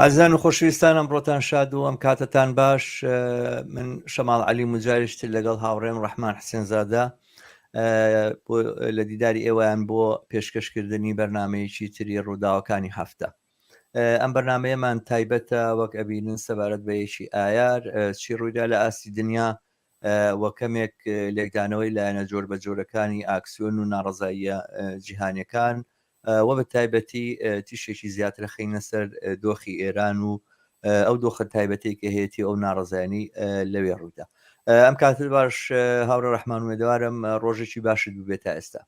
ئازان و خۆشویستانم ڕۆتان شاد و ئەم کاتتان باش من شەماڵ علی مجاریشت لەگەڵ هاوڕێم ڕحمان حسێنزادە لە دیداری ئێوەیان بۆ پێشکەشکردنی بەرنمەیەکی تری ڕووداوەکانی هەفتە ئەم بەرنمەیەمان تایبەتە وەک ئەبینن سەبارەت بە یەکی ئایار چی ڕوویدا لە ئاستی دنیا وە کەمێک لێکدانەوەی لایەنە جۆر بە جۆرەکانی ئاکسیۆن و ناڕزاییە جیهانەکان وە بە تایبەتی تیشکێکی زیاتر خەینە سەر دۆخی ئێران و ئەو دۆخە تایبەتی کە هەیەی ئەو ناڕزایانی لەوێ ڕوودا ئەم کاتر باش هاورە ڕحمان وێدەوارم ڕۆژێکی باشت ببێت تا ئێستا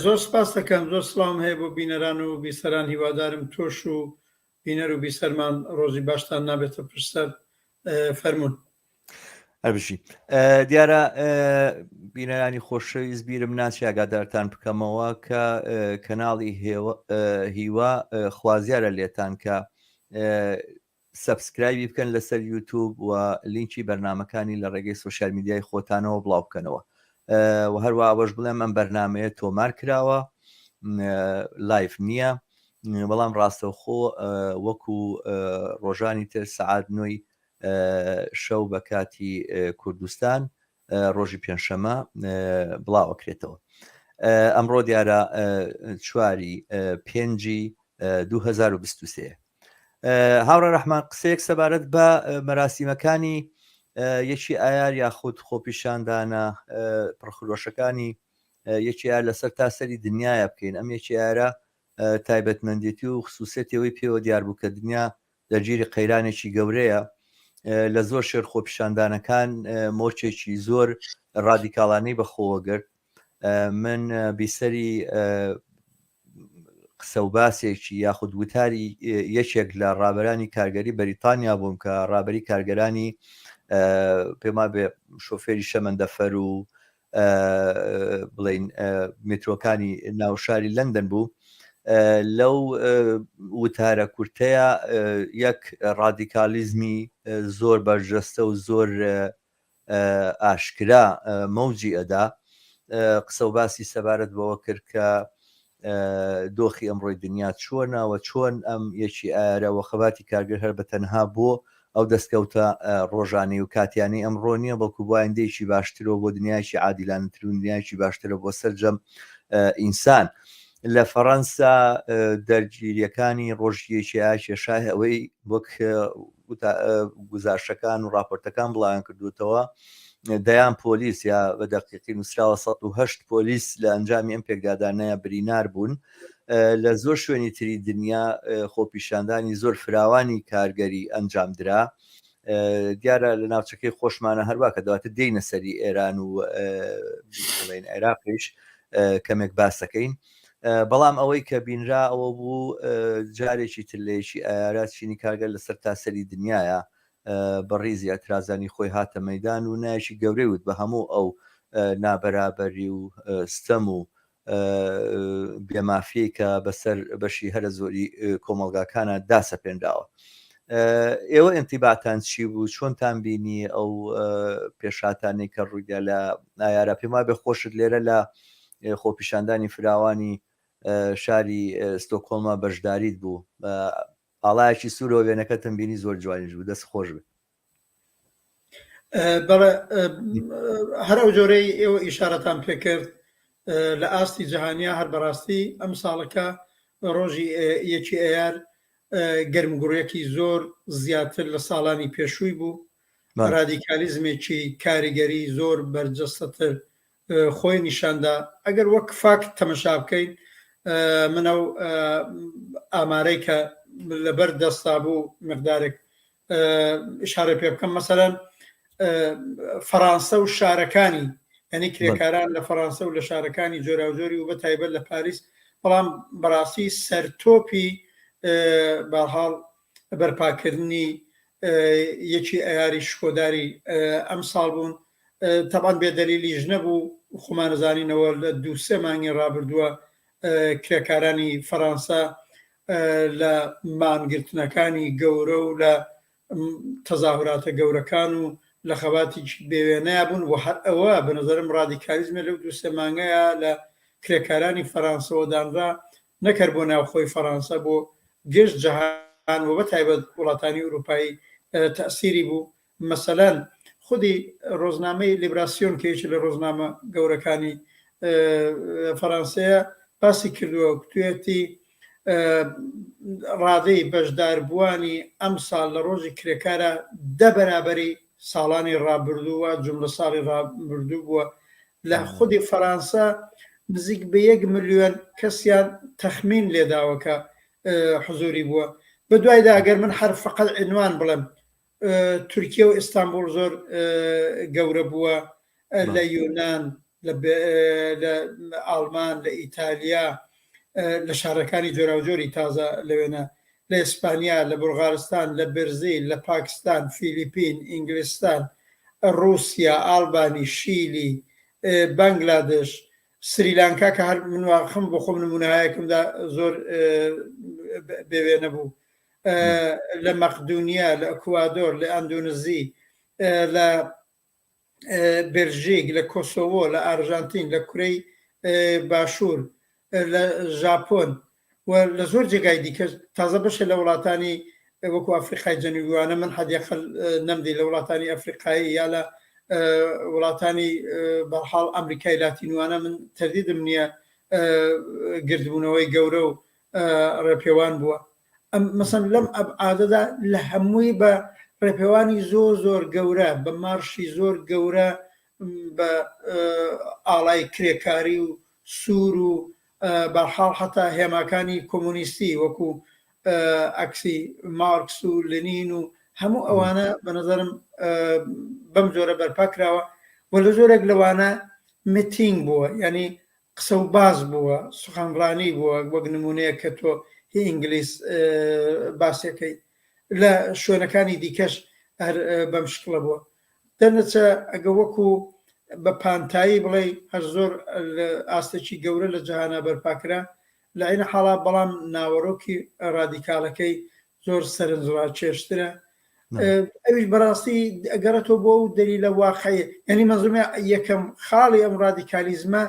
زۆر سپاس دەکەم زۆر سلام هەیە بۆ بینەران و بیسەران هیوادارم تۆش و بینەر و بیسەرمان ڕۆژی باشتان نابێتە پشت سەر فەرمونون. هەربژی دیارە بینەرانی خۆشەویست بیرم ناچی ئاگادارتان بکەمەوە کە کەناڵی هیوا خوازیارە لێتان کە سبسکرایبی بکەن لەسەر یوتوب و لینکی بەرنمەکانی لە ڕێگەی سوسیال میدیای خۆتانەوە بڵاو بکەنەوە و هەروە ئەوەش بڵێم ئەم بەرنمەیە تۆمار کراوە لایف نییە بەڵام ڕاستەوخۆ وەکو ڕۆژانی تر سعات نوێی شەو بە کاتی کوردستان ڕۆژی پێنجشەمە بڵاوەکرێتەوە ئەمڕۆ دیارە چواری پێنجی 2023 هاوڕێ ڕەحمان قسەیەک سەبارەت بە مەراسیمەکانی یەکی ئایار یاخود خۆپیشاندانە پڕخرۆشەکانی یەکی ئار لەسەر تا سەری دنیاە بکەین ئەم یەکی ئارە تایبەتمەندێتی و خصوصێتەوەی پێوە دیاربوو کە دنیا لە ژیری قەیرانێکی گەورەیە لە زۆر شێر خۆپیشاندانەکان مۆچێکی زۆر ڕادیکاڵانەی بەخۆوەگرت من بیسەری قسە و باسێکی یاخود وتاری یەکێک لە ڕابەرانی کارگەری بەریتانیا بووم کە ڕابەری کارگەرانی پێما بێ شۆفێری شەمەندەفەر و بڵین میترۆکانی ناوشاری لەندەن بوو لەو وتارە کورتەیە یەک ڕادیکالیزمی زۆر بەرجەستە و زۆر ئاشکرا مەوجی ئەدا قسەو باسی سەبارەت بەوە کرد کە دۆخی ئەمڕۆی دنیا چۆنە و چۆن ئەم یەکی ئارە و خەباتی کارگر هەر بە تەنها بۆ ئەو دەستکەوتە ڕۆژانەی و کاتیانی ئەم ڕۆنیە بەڵکو بۆ ئایندەیەکی باشترەوە بۆ دنیایکی عادیلانەتر و دنیایکی باشترە بۆ سەرجەم ئینسان لە فەڕەنسا دەرگیریەکانی ڕۆژیەکییا کێشای ئەوەی وەک گوزارشەکان و راپۆرتەکان بڵیان کردوتەوە دەیان پۆلیس یا بە دەقیقی نووسراوە 1970 پۆلیس لە ئەنجامی ئەم پێکدادانەیە برینار بوون لە زۆر شوێنی تری دنیا خۆپیشاندانی زۆر فراوانی کارگەری ئەنجام درا دیارە لە ناوچەکەی خۆشمانە هەروا کە دواتر دێینە سەری ئێران و بڵێن عێراقیش کەمێک باسەکەین بەڵام ئەوەی کە بینرا ئەوە بوو جارێکی تلەیەکی ئارا چینی کارگەر لەسەر تاسەری دنیاە بەڕیزی ئەترازانی خۆی هاتە مەدان و نایشی گەورەی وت بە هەموو ئەو نابەرابەری و ستەم و بێ مافیەی کە بەسەر بەشی هەرە زۆری کۆمەڵگاکانە داسەپێنراوە ئێوە ئەنتیباتان چی بوو چۆنتان بینی ئەو پێشاتانی کە ڕوویدا لە نایارە پێما بێ خۆشت لێرە لە خۆپیشاندانی فراوانی شاری ستۆکۆڵما بەشداریت بوو ئاڵایەکی سوورەوە وێنەکەتم بینی زۆر جوانیش بوو دەست خۆش بێت بەڵێ هەر ئەو جۆرەی ئێوە ئیشارەتان پێکرد لە ئاستی جیهانیا هەر بەڕاستی ئەم ساڵەکە ڕۆژی یەکی ئەیار گەرمگوڕیەکی زۆر زیاتر لە ساڵانی پێشووی بوو ڕادیکالیزمێکی کاریگەری زۆر بەرجەستەتر خۆی نیشاندا ئەگەر وەک فاکت تەمەشا بکەین من ئەو ئامارەی کە لەبەر دەستا بوو مقدارێک شارە پێ بکەم مەسەرەن فەڕانسە و شارەکانی ئەنی کرێکاران لە فەڕانسە و لە شارەکانی جۆراوجۆری و بە تایبەت لە پاریس بەڵام بەڕاستی سەرتۆپی باحاڵ بەرپاکردنی یەکی ئەیاری شکۆداری ئەم ساڵ بوون تەبعەن بێ دەلیلیش نەبوو، خۆمان ئەزانینەوە لە دوو سێ مانگی ڕابردووە کرێکارانی فەرانسە لە مانگرتنەکانی گەورە و لە تەزاهوراتە گەورەکان و لە خەباتیکی بێوێنەیە بوون و هەر ئەوە بە نظرم ڕادیکالیزمە لەو دوو سێ مانگەیە لە کرێکارانی فەرانسەوە دانرا نەکەر بۆ ناوخۆی فەرانسە بۆ گشت جەهان و بە تایبەت وڵاتانی ئوروپایی تەسیری بوو مەسەلەن خودی ڕۆزنامەی لیبراسیۆن کە یەکێ لە ڕۆزنامە گەورەکانی فەرانسەیە باسی کردووە و کوتوێتی ڕادەی بەشداربووانی ئەم ساڵ لە ڕۆژی کرێکارە دە بەرابەری ساڵانی ڕابردووە جملە ساڵی ڕابردوو بووە لە خودی فەرانسە نزیک بە یەک ملیۆن کەسیان تەخمین لێداوەکە حزوری بووە بە دوایدا ئەگەر من هەر فقط عنوان بڵێم تورکیە و ئیستانبوڵ زۆر گەورە بووە لە یۆنان لە ئاڵمان لە ئیتالیا لە شارەکانی جۆراوجۆری تازە لەوێنە لە ئیسپانیا لە بولغارستان لە برزیل لە پاکستان فیلیپین ئینگلستان ڕوسیا ئاڵبانی شیلی بەنگلادش سریلانکا کە هەر منواخم بۆ خۆم نمونایەکمدا زۆر بێوێنە بوو لە مەقدونیا لە ئەکوادۆر لە ئەندونزی لە بێلژیک لە کۆسۆوۆ لە ئارژانتین لە کورەی باشوور لە ژاپۆن و لە زۆر جێگای دیکە تازە بەشە لە وڵاتانی وەکو ئەفریقای جەنویوانە من حەدیقل نەمدی لە وڵاتانی ئەفریقایی یا لە وڵاتانی بەحاڵ ئەمریکای لاتینوانە من تردیدم نییە گردبوونەوەی گەورە و ڕێپێوان بووە ئەم مەسەن لەم ئەبعادەدا لە هەمووی بە ڕێپێوانی زۆر زۆر گەورە بە مارشی زۆر گەورە بە ئاڵای کرێکاری و سوور و بەحاڵ حتا هێماکانی کۆمۆنیستی وەکو ئەکسی مارکس و لنین و هەموو ئەوانە بە نظرم بەم جۆرە بەرپا کراوە و لە زۆرێک لەوانە متینگ بووە ینی قسە و باس بووە سخنڕانی بووە وەک نمونەیەک کە تۆ هی ئینگلیس باسەکەی لە شوێنەکانی دیکەش هەر بەم شکڵە بووە دەرنەچە ئەگە وەکو بە پانتایی بڵێ هەر زۆر ئاستێکی گەورە لە جیهانا بەرپاکرا لە عەین حاڵا بەڵام ناوەرۆکی ڕادیکالەکەی زۆر سەرنجڕاکێشترە ئەویش بەڕاستی ئەگەڕێتەوە بۆ و دەلیلە واقعی یعنی مەزومە یەکەم خاڵی ئەم ڕادیکالیزمە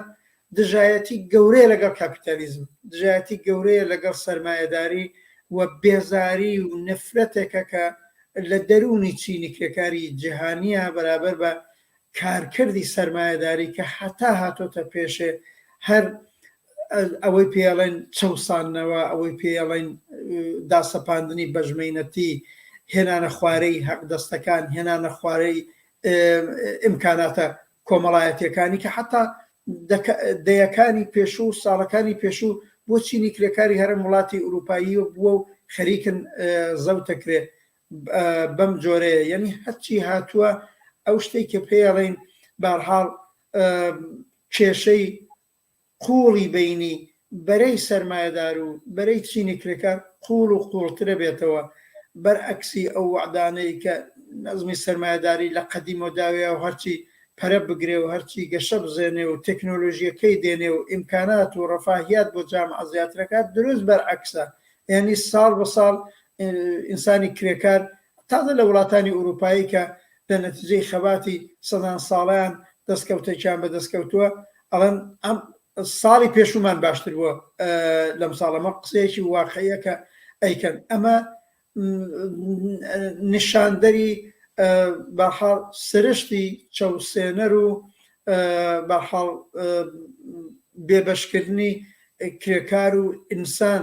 دژایەتی گەورەیە لەگەڵ کاپیتالیزم دژایەتی گەورەیە لەگەڵ سرمایهداری و بێزاری و نفرەتێکە کە لە دەروونی چینی کرێکاری جیهانیە بەرابەر بە کارکردی سەرمایەداری کە هەتا هاتۆتە پێشێ هەر ئەوەی پێڵێن چەوساننەوە ئەوەی پێڵێن داسەپاندنی بەژمەینەتی هێنانە خوارەی هەق دەستەکان هێنانە خوارەی ئیمکاناتە کۆمەڵایەتەکانی کە حتا دەیەکانی پێشوو و ساڵەکانی پێشوو بۆ چینی کرێکاری هەرم وڵاتی ئوروپایی و بووە و خەریکن زەوتەکرێت بەم جۆرەیە یەنی هەرچی هاتووە ئەو شتەی کە پێڵین بارحاڵ کێشەی قوڵی بینی بەرەی سەرمایەدار و بەرەی چینی کرێکار قوڵ و قوڵترە بێتەوە بەرعکسی ئەو وعدانەی کە نەزمی سەرمایەداری لە قەدیم و داوێ و هەرچی پەرە بگرێ و هەرچی گەشە بزێنێ و تەکنۆلۆژیەکەی دێنێ و ئیمکانات و ڕفاهیات بۆ جام ئازیاترەکات دروست بەرعکسە یعنی ساڵ بە ساڵ ئینسانی کرێکار تازە لە وڵاتانی ئورووپایی کە لە نەتیجەی خەباتی سەدان ساڵەیان دەستکەوتێکیان بە دەست کەوتووە ئەڵێن ئەم ساڵی پێشوومان باشتر بووە لەم ساڵەمە قسەیەکی واقعیە کە ئەیکەن ئەمە نیشاندەری بەحاڵ سرشتی چەوسێنەر و بەحاڵ بێبەشکردنی کرێکار و ئینسان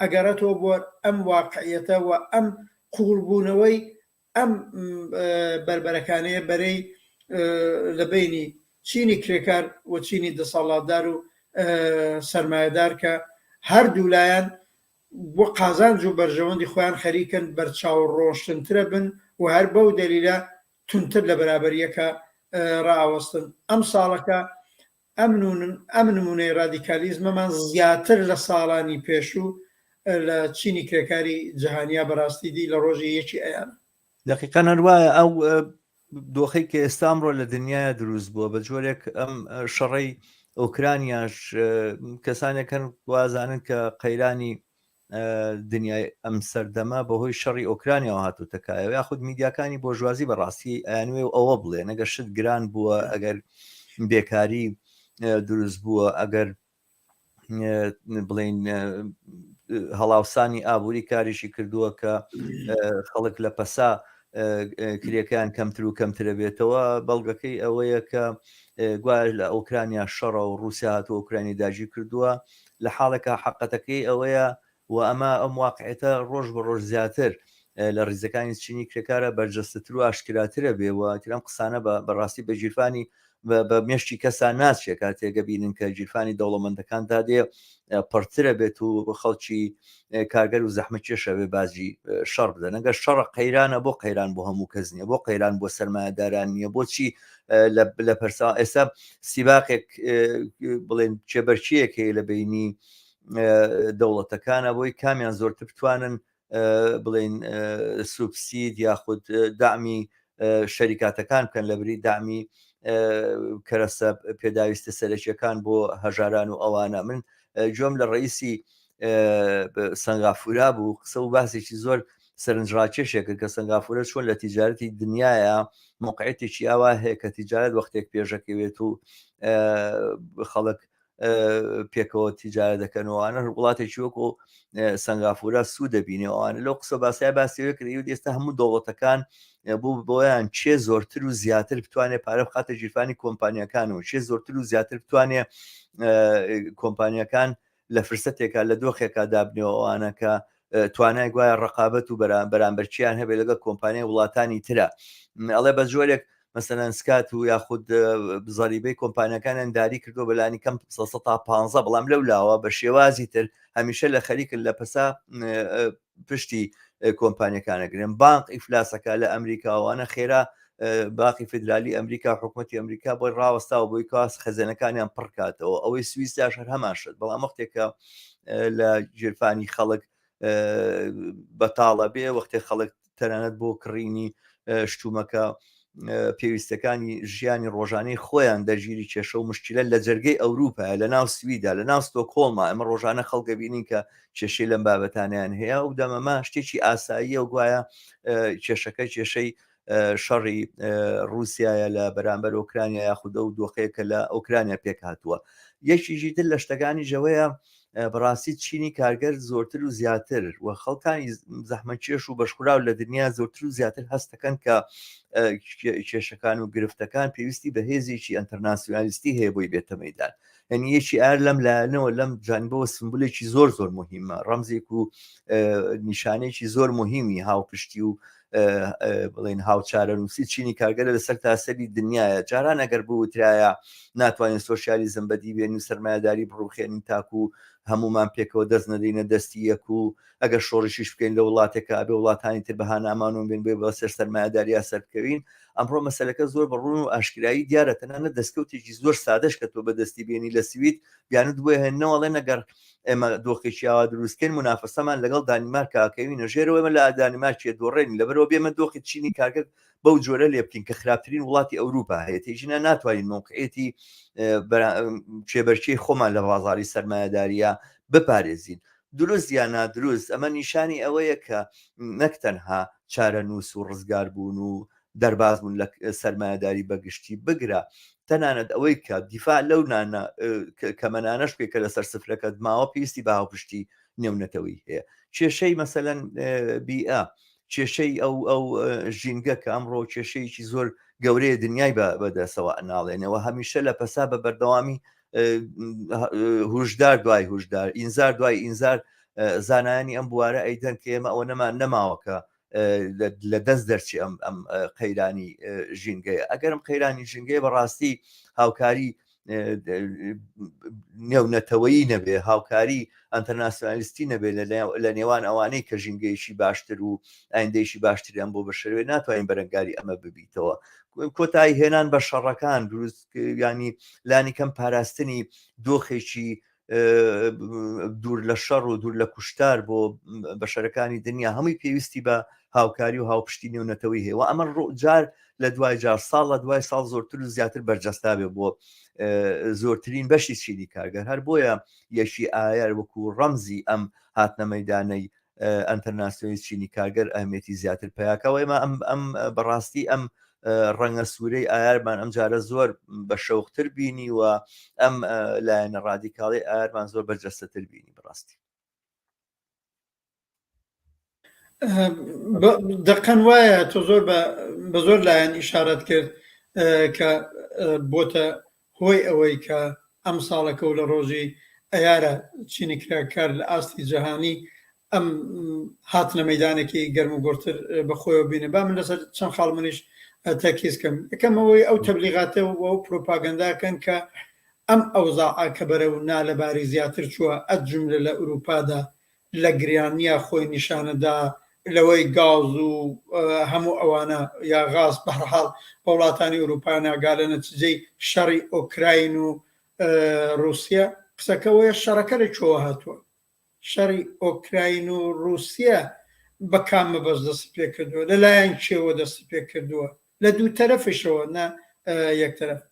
ئەگەڕێتەوە بۆ ئەم واقعیەتە و ئەم قووڵبوونەوەی ئەم بەربەرەکانەیە بەرەی لە بەینی چینی کرێکار و چینی دەسەڵاتدار و سەرمایەدار کە هەردوو لایەن بۆ قازانج و بەرژەوەندی خۆیان خەریکن بەرچاو ڕۆشتنترە بن و هەر بەو دەلیلە تونتر لە بەرابەریەکە ڕاوەستن ئەم ساڵەکە ئەم نموونەی ڕادیکالیزمەمان زیاتر لە ساڵانی پێشوو لە چینی کرێکاری جەهانیا بەڕاستی دی لە ڕۆژی یەکی ئەیار. دەقیقەن هەر وایە ئەو دۆخی کە ئێستا ئەمڕۆ لە دنیاە دروست بووە بە جۆرێک ئەم شەڕی ئۆکرانیاش کەسانێکن وازانن کە قەیرانی دنیای ئەم سەردەمە بەهۆی شەڕی ئۆکرانیاوە هاتوتە کایەوە یاخود میدیاکانی بۆژوازی بەڕاستی ئەیانوێ و ئەوە بڵێ نەگە شت گران بووە ئەگەر بێکاری دروست بووە ئەگەر بڵین هەڵاوسانی ئابووری کاریشی کردووە کە خەڵک لە پەسا کرێکان کەمتر و کەمترە بێتەوە بەڵگەکەی ئەوەیە کە گوایش لە ئۆکرانیا شەڕە و رووسیا هاتو ئۆکرانی داگیر کردووە لە حاڵێکا حەققەتەکەی ئەوەیە و ئەمە ئەم واقعیەتە ڕۆژ بە ڕۆژ زیاتر لە ڕیزەکانی چینی کرێکارە بەرجەستەتر و ئاشکراترە بێ و ئیتر ئەم قسانە بە بە ڕاستی بە گیرفانی بە بە مێشکی کەسا ناچێ کاتێک ئەبینن کە گیرفانی دەوڵەمەندەکان دادێ پڕترە بێت و خەڵکی کارگەر و زەحمە کێش ئەوێ باجی شەڕ بدەن ئەگەر شەڕە قەیرانە بۆ قەیران بۆ هەموو کەس نیە بۆ قەیران بۆ سەرمایەداران نیە بۆچی لە پرسا ئێستا سیباقێک بڵێن کێبەرچیەک هەیە لە بینی دەوڵەتەکانە بۆی کامیان زۆرتر بتوانن بڵین سوبسید یاخود دامی شەریکاتەکان بکەن لە بری دامی کەرەسە پێداویستە سەرەکیەکان بۆ هەژاران و ئەوانە من جۆم لە ڕئیسی سەنگافورا بوو قسە و باسێکی زۆر سەرنجڕاکێشێک کە سنگافورە چۆن لە تیجارەتی دنیاە مقعێتێکی ئاوا هەیە کە تیجارەت وەختێک پێشەکەوێت و خەڵک پێکەوە تیجارە دەکەنەوەوانە وڵاتێکی وەکو سنگافورە سوود دەبینەوەوانە لەو قسە باسیای باسیەوە کرد و ئێستا هەموو دەوڵەتەکان بوو بۆیان چێ زۆرتر و زیاتر بتوانێت پارە بخاتە ژیرفانی کۆمپانیەکان و چێ زۆرتر و زیاتر بتوانێت کۆمپانیەکان لە فرسەتێکا لە دۆخێکا دابنێەوەوانە کە توانای گوایە ڕقابەت و بەرامبەرچیان هەبێت لەگە کۆمپانیای وڵاتانی ترە ئەڵێ بە جۆرێک مەسەەن سکات و یاخود بزەریبەی کۆمپانیەکانیان داری کردو بەلانی کەم 15 بەڵام لەو لاوە بە شێوازی تر هەمیشە لە خەریکن لە پسا پشتی کۆمپانیەکان ئەگرن بانق ئیفلاسەکە لە ئەمریکاوانە خێرا باقی فدرالی ئەمریکا حکوومەتتی ئەمریکا بۆی ڕاوەستاوە بۆی کاس خەزێنەکانیان پڕکاتەوە ئەوەی سویسیاش هەر هەمان شت بەڵام وەختێکە لە گیرفانی خەڵک بەتاڵە بێ وەختێ خەڵک تەنانەت بۆ کڕینی شتومەکە پێویستەکانی ژیانی ڕۆژانەی خۆیان دەژیری کێشە و مشکلە لە جەرگەی ئەوروپا لە ناو سویدا لە ناو ستۆکۆڵما ئەمە ڕۆژانە خەڵکە بینین کە کێشەی لەم بابەتانیان هەیە و دەمەما شتێکی ئاساییە و گوایە کێشەکە کێشەی شەڕی رووسایە لە بەرامبەر ئۆکرانیا یاخودە و دۆخەیە کە لە ئۆکرانیا پێک هاتووە یەکیژی تر لە شتەکانی ژەوەیە بەڕاستی چینی کارگەر زۆرتر و زیاتر و خەڵکانی زەحمەکێش و بەشخراو لە دنیا زۆرتر و زیاتر هەستەکەن کە کێشەکان و گرفتەکان پێویستی بە هێزێکی ئەتەرناسیۆنالیستی هەیە بۆی بێتە مەدان هەنی یەکی ئار لەم لایەنەوە لەم جانبەوە سمبولێکی زۆر زۆر مهمە ڕەمزێک و نیشانێکی زۆر مهمی هاوپشتی و بڵین هاوچارە نووسی چینی کارگەرە لەسەر تاسەری دنیاە جاران ئەگەر بوترایە ناتوانین سوسیالیزم بەدی بێن و سرمایهداری بڕوخێنین تاکو و هەمومان پێکەوە دەست نەدەینە دەستی یەک و ئەگەر شۆڕشیش بکەین لە وڵاتێکە ئەبێ وڵاتانی تر بەهانامانون بێن بێ بە سەر سەرمایهداریا سەرکەوین ئەمڕۆ مەسلەکە زۆر بەڕون و ئاشکایی دیارە تەنانە دەستکەوتێکی زۆر سادەش کە تۆ بەدەستی بێنی لە سوید بیانت بۆ هێنەوەڵێ نەگەر ئێمە دۆخێکی ئاوا دروستکەین منافەسەمان لەگەڵ دانیمارکە ئەکەوینە ژێرەوە ئمە لە دانیمارکێ دۆڕێن لەبەرەوە بێمە دۆخی چینی کارگە بەو جۆرە لێ بکەین کە خراپترین وڵاتی ئەوروپا هەیە تێژینە ناتوانین مۆقعێتی کێبەرچەی خۆمان لە بازاری سەرمایهداریە بپارێزین دروست یا نادروست ئەمە نیشانی ئەوەیە کە نەک تەنها چارە نووس و ڕزگار بوون و دەرباز بوون لە سەرمایەداری بەگشتی بگرە تەنانەت ئەوەی کە دیفاع لەو نانە کەمەنانەش پێ کە لەسەر سفرەکەت ماوە پێویستی بە هاوپشتی نێونەتەوەی هەیە کێشەی مەسەەن بیئە کێشەی ئەو ئەو ژینگە کە ئەمڕۆ کێشەیەکی زۆر گەورەیە دنیای بەدەسەوە ئەناڵێنەوە هەمیشە لە پەسا بە بەردەوامی هوشدار دوای هوشدار ئینزار دوای ئینزار زانانی ئەم بوارە ئەیدەن کە ئێمە ئەوە نەمان نەماوەکە لە دەست دەرچی ئەم ئەم قەیرانی ژینگەیە ئەگەرم قەیرانی ژینگەیە بەڕاستی هاوکاری نێونەتەوەیی نەبێ هاوکاری ئەتەناسیۆنالیستی نەبێ لە نێوان ئەوانەی کە ژینگەیەکی باشتر و ئایندەیشی باشتریان بۆ بەشەوێ ناتوانین بەرەنگاری ئەمە ببیتەوە کۆتایی هێنان بە شەڕەکان دروست ینی لانی کەم پاراستنی دۆخێکی دوور لە شەڕ و دوور لە کوشتار بۆ بەشەرەکانی دنیا هەمووی پێویستی بە هاوکاری و هاوپشتی نێونەتەوەی هەیە و ئەمە ڕوجار لە دوای جار ساڵ لە دوای ساڵ زۆرتر و زیاتر بەرجەستابێ بۆ زۆرترین بەشی چینی کارگەر هەر بۆیە یەکی ئایار وەکو ڕەمزی ئەم هاتنە مەدانەی ئەنتەرناسیۆنی چینی کارگەر ئەهمێتی زیاتر پیاکەوەی ما ئەم ئەم بەڕاستی ئەم ڕەنگە سوورەی ئایارمان ئەم جارە زۆر بە شەوقتر بینی و ئەم لایەنە ڕادیکاڵی ئارمان زۆر بەرجەستەتر بینی بڕاستی دەقەن وایە تۆ زۆر بە زۆر لایەن ئیشارەت کرد کە بۆتە هۆی ئەوەی کە ئەمساڵەکە و لە ڕۆژی ئەیارە چینی کرا کار لە ئاستی جەهانی ئەم هاتنە مەیدانێکی گەرم و گۆڕتر بە خۆیەوە بینێ با من لەسەر چەند خاڵ منیش تەرکیز کەم یەکەم ئەوەی ئەو تەبلیغاتە و ئەو پروپاگەنداکەن کە ئەم ئەوزاعە کە بەرەو نالەباری زیاتر چووە ئەد جوملە لە ئورووپادا لە گریانیا خۆی نیشانەدا لەوەی گاز و هەموو ئەوانە یا غاز بەهەرحاڵ بە وڵاتانی ئورووپا ناگا لە نەتیجەی شەڕی ئۆکراین و ڕووسیا قسەکە وەیە شەڕەکە لە کوێوە هاتووە شەڕی ئۆکراین و ڕووسیا بە کام مەبەست دەستی پێ کردووە لەلایەن کێوە دەستی پێ کردووە لە دوو تەرەفشەوە نە یەک تەرەف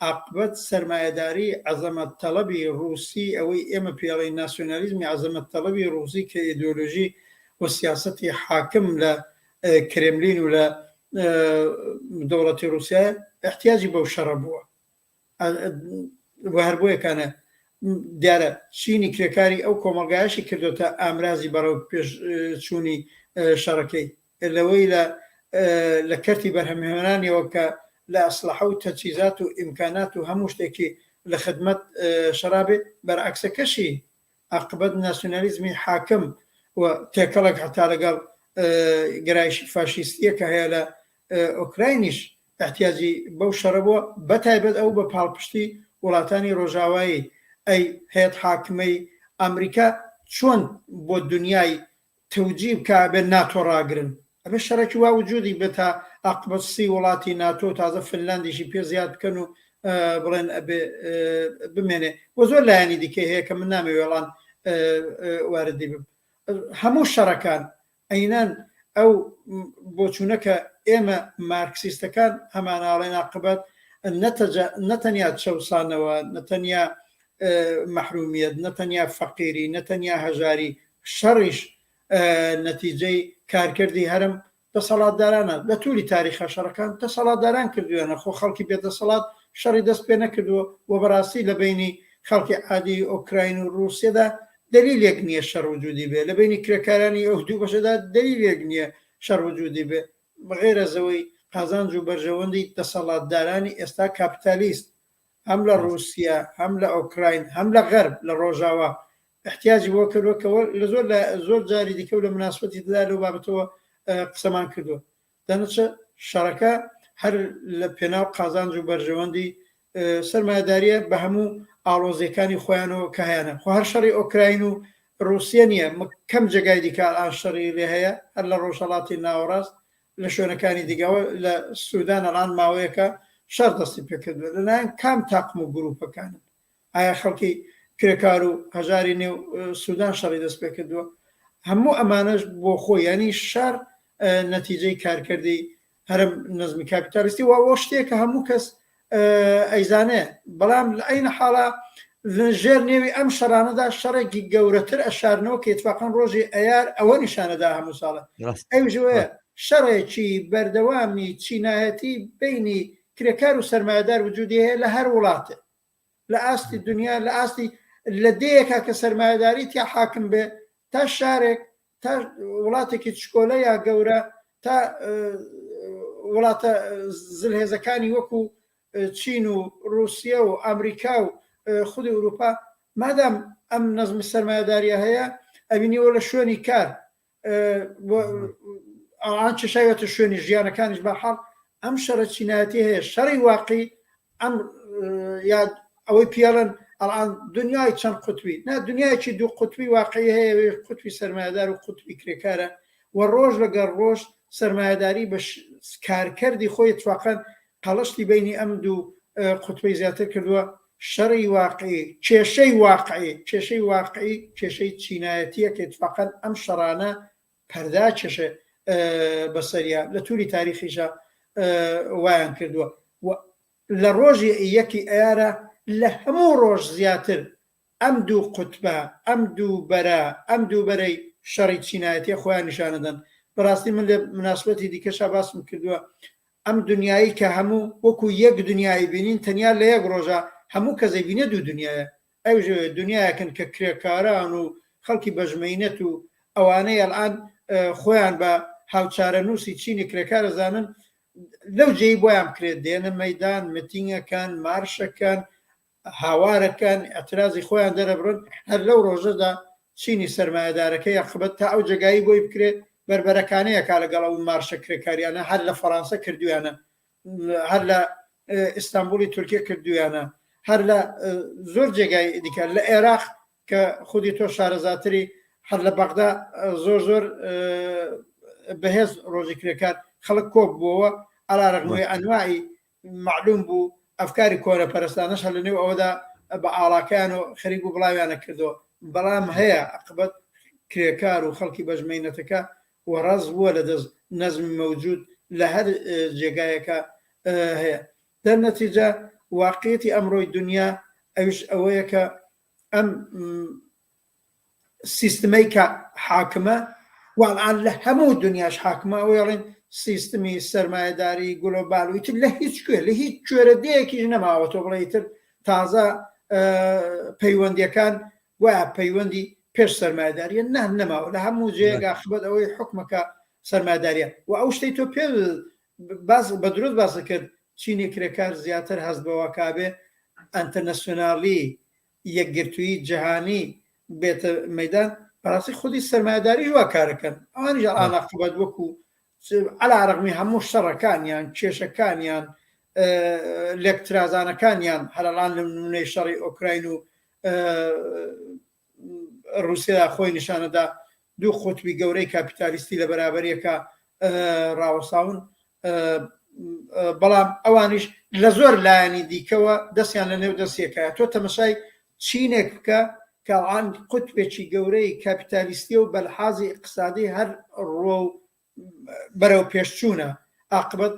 ئاقبەت سەرمایەداریی عەزەمەت تەڵەبی ڕووسی ئەوەی ئێمە پێڵێین ناسیۆنالیزمی عەزەمەت تەڵەبی ڕووسی کە ئێدۆلۆژی و سیاسەتی حاکم لە کرێملین و لە دەوڵەتی ڕووسیایە ئەحتیاجی بەو شەڕە بووە و هەر بۆ یەکانە دیارە چینی کرێکاری ئەو کۆمەڵگایشی کردوتە ئامرازی بەڕەو پێش چوونی شەڕەکەی لەوەیلە لە کەرتی بەرهەمهێنانیەوە کە لە ئەسلەحە و تەجهیزات و ئیمکانات و هەموو شتێکی لە خدمەت شەڕا بێ، بەرعەکسەکەشی ئاقبەت ناسیونالیزمی حاکم و تێکەڵک هەتا لەگەڵ گەرایشی فاشیستیە کە هەیە لە ئۆکراینیش ئیحتیاجی بەو شەڕە بووە، بەتایبەت ئەو بە پاڵپشتی وڵاتانی ڕۆژاوایی ئەی هێت حاکمەی ئامریکا چۆن بۆ دونیای توجی بکا ئەبێ ناتۆ ڕاگرن ئەبێ شەڕێکی وا وجودی بێ تا ئاقبەت سی وڵاتی ناتۆ تازە فنلاندیشی پێ زیاد بکەن و بڵێن ئەبێ بمێنێ وە زۆر لایەنی دیکە هەیە کە من نامێ وێڵان واردی بم هەموو شەڕەکان ئەینان ئەو بۆچوونە کە ئێمە مارکسیستەکان هەمانناڵێن ئاقبەت نەتەنیا چەسانەوە نەتەنیا محرومیت نەتەنیا فەقیری نەتەنیا هەژاری شەڕیش نەتیجەی کارکردی هەرم دەسەڵاتدارانە، لە توری تاریخا شەڕەکان دەسەڵاتداران کردویانە، خۆ خەڵکی بێ دەسەڵات شەڕی دەست پێ نەکردوە و بەڕاستی لە بەینی خەڵکی عادی ئۆکراین و ڕوسیەدا دەلیلێک نیە شەڕ وجودی بێ، لە بەینی کرێکارانی ئەو دوو بەشەدا دەلیلێک نیە شەڕ وجودی بێ غەیرەزەوەی قازانج و بەرژەوەندی دەسەڵاتدارانی ئێستا کاپیتالیست هەم لە ڕووسیە هەم لە ئۆکراین هەم لە غەرب لە ڕۆژاوا احتیاجی بۆ کردووە کە وە لە زۆر لە زۆر جاری دیکە و لە مناسبەتی دیدا لەو بابەتەوە قسەمان کردووە دەنچە شەڕەکە هەر لە پێناو قازانج و بەرژەوەندی سەرمایەداریە بە هەموو ئاڵۆزیەکانی خۆیانەوە کە هەیەە خۆ هەر شەڕی ئۆکراین و ڕوسیە نییە کەم جێگای دیکە ئاشەڕی لێ هەیە هەر لە ڕۆژهڵاتی ناوەڕاست لە شوێنەکانی دیگەوە لە سودان ڕان ماوەیەکە شەڕ دەستی پێکردووە لەلایەن کام تاقم و گروپەکانن ئایا خەڵکی کرێکار و هەژاری نێو سودان شەڕی دەست پێکردووە هەموو ئەمانەش بۆ خۆ ینی شار نەتیجەی کارکردی هەرم نزمی کاپیتالیستی واوە شتێکە هەموو کەس ئەیزانێ، بەڵام لە عەین حاڵا لە ژێر نێوی ئەم شەڕانەدا شەڕێکی گەورەتر ئەشارنەوە کە ئیتفاقەن ڕۆژی ئەیار ئەوە نیشانە دا هەموو ساڵێ ڕاست ئەویش ئەوەیە ڕاست شەڕێکی بەردەوامی چینایەتی بەینی کرێکار و سەرمایەدار وجودی هەیە لە هەر وڵاتێ لە ئاستی دنیا لە ئاستی لە دێیەکە کە سەرمایەداری تیا حاکم بێ تا شارێک تا وڵاتێکی چکۆلە یا گەورە تا وڵاتە زلهێزەکانی وەکو چین و رووسیا و ئەمریکا و خودی ئوروپا مادام ئەم نەزمی سەرمایهداریە هەیە ئەبینیەوە لە شوێنی کار ئەوان چشایەتە شوێنی ژیانەکانیش بە حاڵ ئەم شەڕە چینایەتی هەیە شەڕی واقعی ئەم یاد ئەوەی پیاڵن ئەڵان دنیای چەند قوتوی نا دنیایکی دوو قوتوی واقعی هەیە قوتوی سەرمایدار و قوتوی کرێکارە و ڕۆژ لەگەر ڕۆژ سەرمایداری بە کارکردی خۆی تواقەن قەڵشتی بینی ئەم دوو قوتوی زیاتر کردووە شەڕی واقعی کێشەی واقعی کێشەی واقعی کێشەی چینایەتیەکە تواقەن ئەم شەڕانە پەردا کێشێ بە سەریا لە توری تاریخیشا وایان کردووە و لە ڕۆژی یەکی ئەیارە لە هەموو ڕۆژ زیاتر ئەم دوو قوتبە ئەم دوو بەرە ئەم دوو بەرەی شەڕی چینایەتێ خۆیان نیشانەدەن بەڕاستی من لە مناسبەتی دیکەشا باسم کردووە ئەم دنیایی کە هەموو وەکو یەک دنیایی بینین تەنیا لە یەک ڕۆژە هەموو کەسێ بینە دوو دنیاە ئەوژە دنیایەکن کە کرێکاران و خەڵکی بەژمەینەت و ئەوانەی ئەلئان خۆیان بە هاوچارەنووسی چینی کرێکار ئەزانن، لەو جێی بۆیان بکرێت دێنە مەیدان، متینگەکەن، مارشەکەن، هاوارەکەن، ئیعترازی خۆیان دەرەبڕن، هەر لەو ڕۆژەدا چینی سەرمایەدارەکەی ئەقبەت تا ئەو جێگایی بۆی بکرێت بەربەرەکانێ ئەکا لەگەڵ ئەو مارشە کرێکاریانە، هەر لە فەڕانسە کردوویانە هەر لە ئیستانبولی تورکیە کردویانە هەر لە زۆر جێگای دیکە لە عێراق کە خودی تۆ شارەزاتری هەر لە بەغدا زۆر زۆر بەهێز ڕۆژی کرێکار خەڵک کۆک بووەوە ئەلارەغمۆی ئەنوایی معلوم بوو ئەفکاری کۆرە پەرستانەش هە لە نێو ئەوەدا بە ئاڵاکان و خەریک و بڵاویانە کردو بەڵام هەیە ئەقبەت کرێکار و خەڵکی بەژمەینەتەکە و ڕاست بووە لە دەست نەزمی مەوجود لە هەر جێگایەکا هەیە دەر نەتیجە واقیەتی ئەمڕۆی دنیا ئەویش ئەوەیە کە ئەم سیستمەی کە حاکمە وەڵان لە هەموو دنیاش حاکمە وێڵین سیستمی سەرمایهداری گلۆبال وتر لە هیچ کوێ لە هیچ کوێرە دەیەکیش نەماوە تۆ بڵێ تر تازە پەیوەندیەکان گوایە پەیوەندی پێش سەرمایەداریە نە نەماوە لە هەموو جێگە ئاخبەت ئەوەی حکومەکە سەرمایەداریە و ئەو شتەی تۆ پێ باز بە درۆت باسە کرد چینی کرێکار زیاتر هەست بەوە کابێ ئەنتەرنەسیۆنالی یەکگرتووی جیهانی بێتە مەدان بەڕاستی خودی سەرمایەداری وا کارەکەن ئەوانیش ئاناقبەت وەکو عەلا رەغمی هەموو شەڕەکانیان، کێشەکانیان، لێکترازانەکانیان، هەر ئەڵان لە نموونەی شەڕی ئۆکراین و رووسیادا خۆی نیشانەدا، دوو قوتبی گەورەی کاپیتالیستی لە بەرابەریەکا راوەستاون، بەڵام ئەوانیش لە زۆر لایەنی دیکەوە دەستیان لە نێو دەستیەکایە. تۆ تەمەشای چینێک بکە کە عەند قوتبێکی گەورەی کاپیتالیستیە و بەلحازی ئیقتسادی هەر ڕووە و بەرەو پێش چوونە ئاقبەت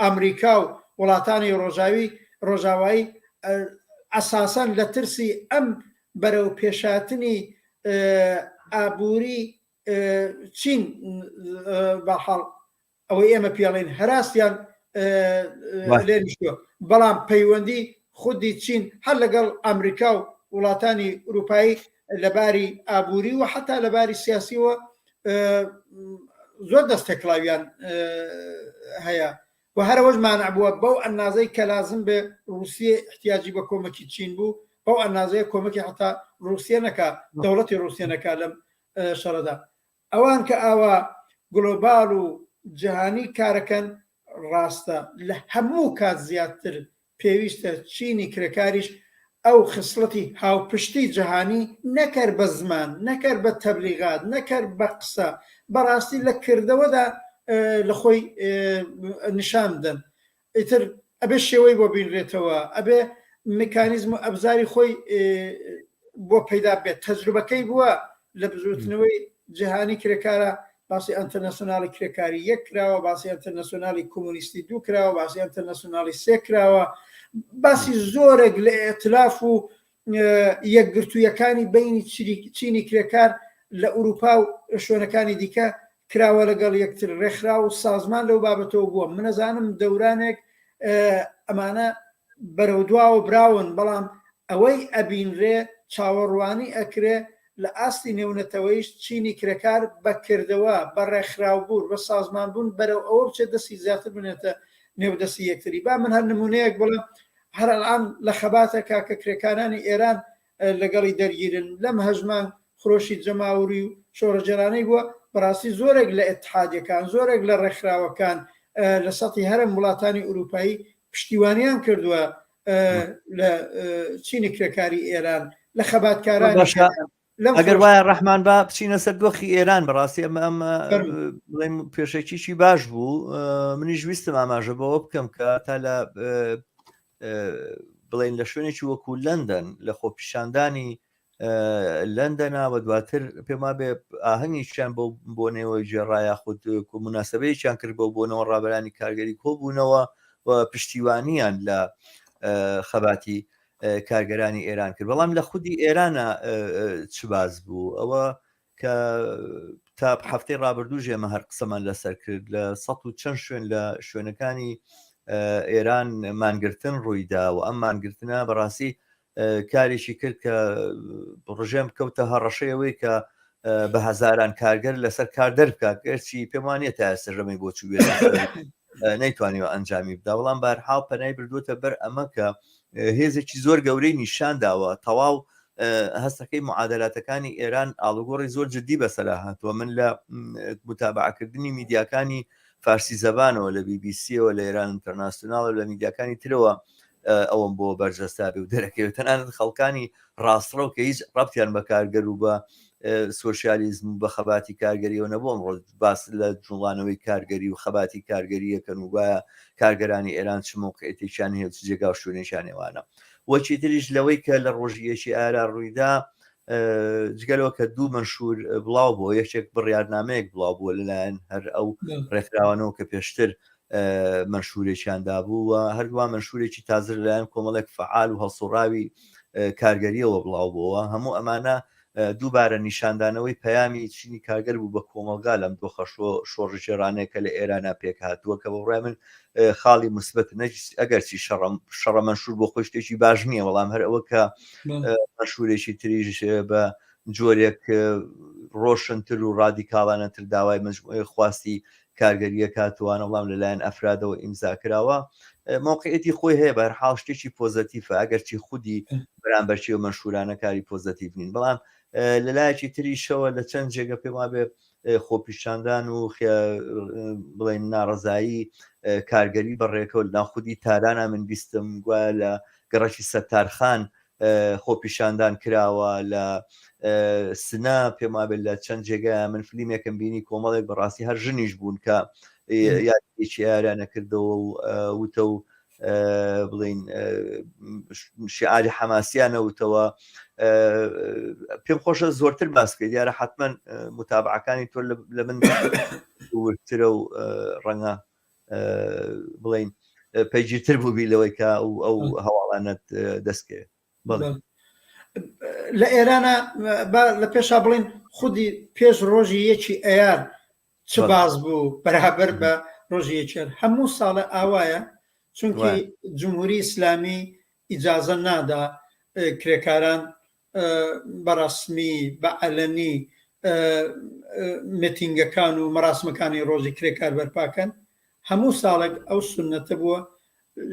ئامریکا و وڵاتانی ڕۆژاوی ڕۆژاوایی ئەساسەن لە ترسی ئەم بەرەو پێشاتنی ئابووری چین بەحاڵ ئەوەی ئێمە پێڵێن هەراستیان لێنیشتوە بەڵام پەیوەندی خودی چین هەر لەگەڵ ئەمریکا و وڵاتانی ئوروپایی لەباری ئابووری و حتا لەباری سیاسیەوە زۆر دەست تێکڵاویان هەیە و هەرەوەش مانع بووە بەو ئەنازەی کە لازم بێ رووسیە احتیاجی بە کۆمەکی چین بوو بەو ئەنازەیە کۆمەکی حتا رووسیە نەکە دەوڵەتی رووسیە نەکە لەم شەڕدا ئەوان کە ئاوا گلۆبال و جەهانی کارەکەن، ڕاستە لە هەموو کات زیاتر پێویستە چینی کرێکاریش ئەو خسڵەتی هاوپشتی جەهانی نەکەر بە زمان، نەکەر بە تەبلیغات، نەکەر بە قسە، بەڕاستی لە کردەوەدا لە خۆی نیشان بدەن. ئیتر ئەبێ شێوەی بۆ بینرێتەوە ئەبێ میکانیزم و ئەبزاری خۆی بۆ پەیدا بێت تەجروبەکەی بووە لە بزوتنەوەی جیهانی کرێکارە باسی ئەتەنەسۆنالی کرێکاری یەک کراوە باسی ئەتەنەسۆنالی کۆمونیستی دوو کراوە باسی ئەتەنەسۆنالی سێ کراوە باسی زۆرێک لە ئەتلاف و یەکگرتوویەکانی بەینی چینی کرێکار لە ئورووپا و شوێنەکانی دیکە کراوە لەگەڵ یەکتر ڕێکخرا و سازمان لەو بابەتەوە بووە منەزانم دەورانێک ئەمانە بەرەو دواوە براون بەڵام ئەوەی ئەبینرێ چاوەڕوانی ئەکرێ لە ئاستی نێونەتەوەیش چینی کرێکار بەکردەوە بە ڕێکخراوبوون بە سازمان بوون بەرەو ئەوە بچێت دەستی زیاتر بنێتە نێودەستی یەکتری با من هەر نمونەیەک بڵێ هەر ئەلئان لە خەباتە کاکە کرێکارانی ئێران لەگەڵی دەرگیرن لەم هەژمان خرۆشی جەماوری و شۆڕەجێرانەی بووە بەڕاستی زۆرێک لە ئتحادەکان زۆرێک لە ڕێکخراوەکان لە سەتی هەرم وڵاتانی ئوروپایی پشتیوانیان کردووە لە چینی کرێکاری ئێران لە خەباتکاران ئەگەر وایە ڕەحمان با بچینە سەر دۆخی ئێران بەڕاستی ئەمە ئەم بڵێم پێشەکیی باش بوو منیش ویستم ئاماژە بەوە بکەم کە تا لە بڵین لە شوێنێکی وەکو لەندەن لە خۆپیشاندانی لەندەناوە دواتر پێما بێ ئاهەنگیان بۆ بۆنەوە ژێڕایە خود مناسبەیەکیان کرد بۆ بۆنەوە ڕابرانی کارگەری کۆبوونەوە و پشتیوانیان لە خەباتی کارگەرانی ئێران کرد بەڵام لە خودی ئێرانە چ باز بوو ئەوە کە تا هەفتەی ڕابردوو ژێمە هەر قسەمان لەسەر کرد لە سە و چەند شوێن لە شوێنەکانی ئێران مانگرتن ڕوویدا و ئەم مانگرتنە بەڕاستی کارێکی کرد کە ڕژێم کەوتە هەڕەشەیەوەی کە بە هەزاران کارگەر لەسەر کار دەرکات گەرچی پێمانە تا سەرژەمی بۆچووێت نەیتوانیوە ئەنجامی بدا بەڵام بارحاڵ پەنای بردووتە بەر ئەمە کە هێزێکی زۆر گەورەی نیشان داوە تەواو هەستەکەی معادلاتەکانی ئێران ئاڵوگۆڕی زۆر جددی بەسەرا هاتووە من لە متابعکردنی میدیاکانی فارسی زەبانەوە لە بیبیسیەوە لە ئێران ئینتەرناسیۆناڵ لە میدیاکانی ترەوە ئەوم بۆ بەرجەستابی و دەرەکەوێت تەنانەت خەڵکانی ڕاستڕەو کە هیچ ڕەبتیان بە کارگەر و بە سوسیالیزم بە خەباتی کارگەریەوە نەبووم ڕۆژ باس لە جوڵانەوەی کارگەری و خەباتی کارگەری یەکەن و گوایە کارگەرانی ئێران چ مەوقعیتێکیان هەیە و چ جێگا و شوێنێکیان نێوانە و چیتریش لەوەی کە لە ڕۆژی یەکی ئارا ڕوویدا جگە لەوە کە دوو مەنشور بڵاو بۆ یەکێک بڕیارنامەیەک بڵاو بووە لەلایەن هەر ئەو ڕێکخراوانەوە کە پێشتر مەشورێکیاندا بوو و هەردووا مەشورێکی تازر لایەن کۆمەڵێک فعال و هەڵسوڕاوی کارگەریەوە بڵاو بۆەوە هەموو ئەمانە دووبارە نیشاندانەوەی پەیامی چینی کارگەر بوو بە کۆمەڵگا لەم دۆخە شۆڕشگێڕانەیە کە لە ئێرانا پێکهاتووە کە بەڕای من خاڵی موسبەتە نەجسی ئەگەرچی شەڕە مەنشور بۆ خۆی شتێکی باش نییە بەڵام هەر ئەوە کە مەشورێکی تریژ بە جۆرێک ڕۆشنتر و ڕادیکاڵانەتر داوای مجموعی خواستی کارگەرییەک هاتووانە بەڵام لەلایەن ئەفرادەوە ئیمزا کراوە مۆقعیەتی خۆی هەیە بە هەرحاڵ شتێکی پۆزەتیفە ئەگەرچی خودی بەرامبەرچی و مەشهورانە کاری پۆزەتیف نین بەڵام لە لایەکی تریشەوە لە چەند جێگە پێم وابێ خۆپیشاندان و بڵێن ناڕزایی کارگەری بەڕێکەوە ناخودی تارانە من بیستم گوایە لە گەڕەکی سەتارخان خۆپیشاندان کراوە لە سنە پێم وابێت لە چەند جێگایان من فلیمێکم بینی کۆمەڵێک بەڕاستی هەر ژنیش بوون کە یادێکی ئارانە کردەوە و وتە و بڵین شعاری حەماسیانەوتەوە پێم خۆشە زۆرتر باسکە دیارە حتمما متابعەکانی تۆ لە من وترە و ڕەنگە بڵین پەیگیرتر بووبی لەوەی کە ئەو هەواڵانت دەستکەوێت لە ئێرانە لە پێشا بڵین خودی پێش ڕۆژی یەکی ئەیار چ باز بوو بەرابەر بە ڕۆژی یەکێر هەموو ساڵە ئاوایە چونکی جمهوری ئیسلامی ئیجازە نادا کرێکاران بەڕەسمی بە عەلەنی متینگەکان و مەراسمەکانی ڕۆژی کرێکار بەرپاکەن هەموو ساڵێک ئەو سونەتە بووە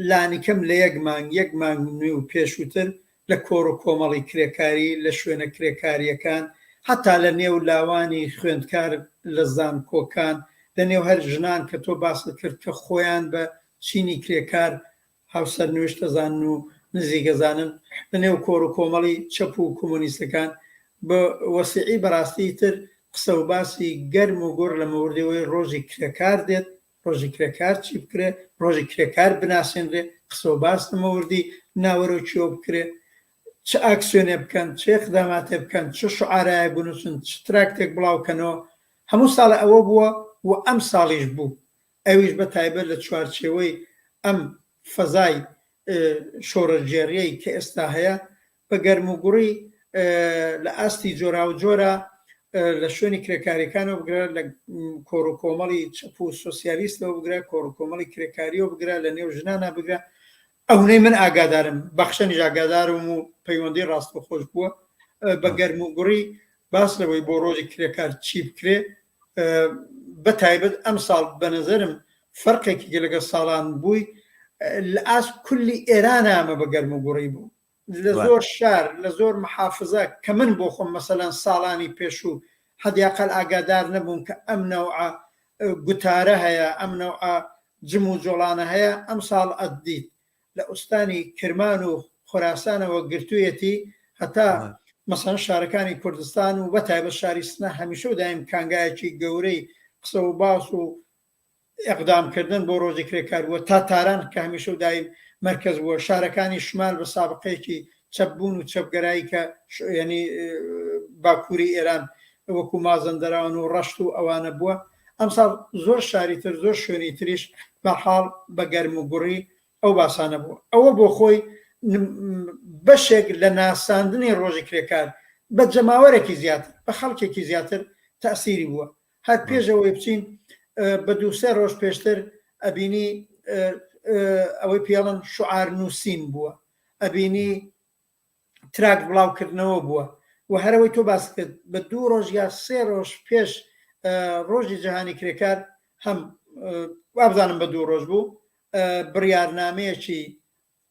لانیکەم لە یەک مانگ یەک مانگ نوێ و پێشووتر لە کۆڕ و کۆمەڵی کرێکاری لە شوێنە کرێکاریەکان هەتا لە نێو لاوانی خوێندکار لە زانکۆکان لە نێو هەر ژنان کە تۆ باست کرد کە خۆیان بە چینی کرێکار هاوسەرنوێشتەزانن و نزیکەزانن لە نێو کۆڕ و کۆمەڵی چەپ و کۆمۆنیستەکان بە وەسیعی بەڕاستی تر قسە و باسی گەرم و گوڕ لە مەوردەوەی ڕۆژی کرێکار دێت، ڕۆژی کرێکار چی بکرێ، ڕۆژی کرێکار بناسێنرێ، قسە و باس لە مەوردی ناوەرۆکیەوە بکرێ، چ ئاکسیۆنێ بکەن، چ ئیقداماتێ بکەن، چ شوعارایەک بنووسن، چ تراکتێک بڵاو کەنەوە، هەموو ساڵێ ئەوە بووە و ئەمساڵیش بوو، ئەویش بە تایبەت لە چوارچێوەی ئەم فەزای شۆڕشگێڕیەی کە ئێستا هەیە، بە گەرموگوڕی لە ئاستی جۆراوجۆرا لە شوێنی کرێکاریەکانەوە بگرە لە کۆڕ و کۆمەڵی چەپ و سۆسیالیستەوە بگرە کۆڕ و کۆمەڵی کرێکاریەوە بگرە لە نێو ژنانە بگرە ئەونەی من ئاگادارم بەخشەنیش ئاگادارم و پەیوەندی ڕاستەخۆش بووە بە گەرم و گوڕی باس لەوەی بۆ ڕۆژی کرێکار چی بکرێ بە تایبەت ئەم ساڵ بە نظرم فەرقێکی گە لەگە ساڵان بووی لە ئاست کولی ئێران ئامە بە گەرم و گوڕی بوو لە زۆر شار لە زۆر محافزە کە من بۆ خۆم مەسەلەن ساڵانی پێشوو حەدیاقەل ئاگادار نەبووم کە ئەم نەوعە گوتارە هەیە ئەم نەوعە جم و جۆڵانە هەیە ئەمساڵ ئەتدیت لە ئوستانی کرمان و خۆراسانەوە گرتوویەتی هەتا مەسەن شارەکانی کوردستان و بەتایبەت شاری سنە هەمیشە و دایم کانگایەکی گەورەی قسە و باس و ئیقدام کردن بۆ ڕۆژی کرێکار بووە تا تاران کە هەمیشە و دایم مەرکەز بووە شارەکانی شمال بە سابقەیەکی چەپ بوون و چەپگەرایی کە یەنی باکووری ئێران وەکو مازەندەراوان و ڕەشت و ئەوانە بووە ئەمساڵ زۆر شاری تر زۆر شوێنی تریش بە حاڵ بە گەرم و گوڕی ئەو باسانە بوو ئەوە بۆ خۆی بەشێک لە ناساندنی ڕۆژی کرێکار بە جەماوەرێکی زیاتر بە خەڵکێکی زیاتر تاسیری بووە هەر پێش ئەوەی بچین بە دوو سێ ڕۆژ پێشتر ئەبینی ئەوەی پێڵن شعار نووسین بووە ئەبینی تراک بڵاوکردنەوە بووە و هەرەوەی تۆ باس کرد بە دوو ڕۆژ یا سێ ڕۆژ پێش ڕۆژی جیهانی کرێکار هەم وابزانم بە دوو ڕۆژ بوو بڕیارنامەیەکی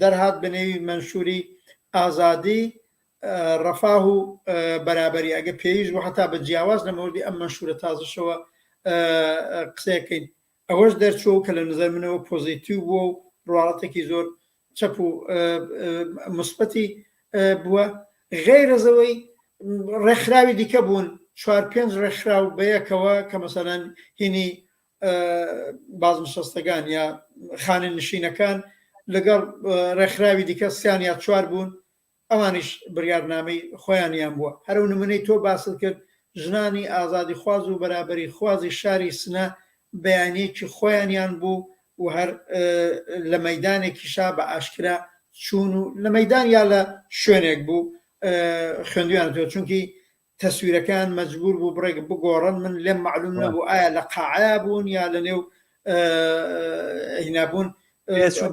دەرهات بە نێوی مەنشوری ئازادی، رەفاه و بەرابەری، ئەگەر پێویست بوو هەتا بە جیاواز لە مەوردی ئەم مەنشورە تازەشەوە قسەیەک کەین. ئەوەش دەرچووە کە لە نەزەر منەوە پۆزیتیو بووە و رواڵەتێکی زۆر چەپ و موسبەتی بووە. غەیرەز ئەوەی رێکخراوی دیکە بوون، چوار پێنج رێکخراو بەیەکەوە کە مەسەلەن هینی بازنشەستەکان یا خانەنشینەکان لەگەڵ ڕێکخراوی دیکە سیان یا چوار بوون ئەوانیش بڕیارنامەی خۆیانیان بووە هەرو نمونەی تۆ باست کرد ژنانی ئازادی خواز و بەرابری خوازی شاری سنە بەیانێکی خۆیانیان بوو و هەر لە مەدانێکی شا بە ئاشکرا چوون و لە مەدان یا لە شوێنێک بوو خوێندویان تۆ چونکی تەسویرەکەیان مەجبور بوو بڕێک بگۆڕن من لێم مەعلوم نەبوو ئایا لە قاعەیا بوون یا لە نێو هینابوون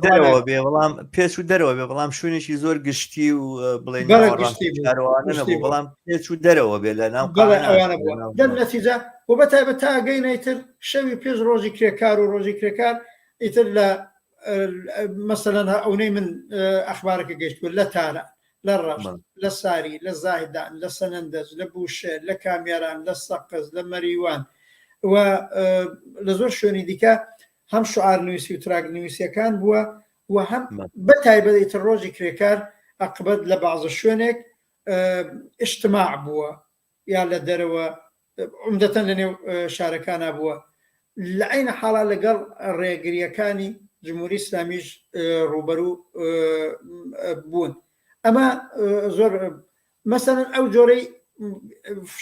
دەرەوە بێ بەڵام پێچ و دەرەوە بێ بەڵام شوێنێکی زۆر گشتی و بڵێن بەڵام پێچ و دەرەوە بێ لە ناو دەم نەتیجا و بە تایبەت تاگەینەیتر شەوی پێش ڕۆژی کرێکار و ڕۆژی کرێکار ئیتر لە مەسەلەن ئەونەی من ئەخبارەکە گەشت بوو لە تارە لە ڕەش لە ساری لە زاهدان لە سەنندەز لە بوشێ لە کامیاران لە سەقز لە مەریوان و لە زۆر شوێنی دیکە هەم شعار نووسی و تراک نووسەکان بووە و هەم بە تایبەتی ڕۆژی کرێکار ئەقبەت لە بازە شوێنێک ئشتماع بووە یا لە دەرەوە عومدەتەن لە نێو شارەکانا بووە لە عینە حاڵا لەگەڵ ڕێگریەکانی جمهوری ئسلامیش ڕوبەرو بوون ئەمە زۆر مەسەن ئەو جۆرەی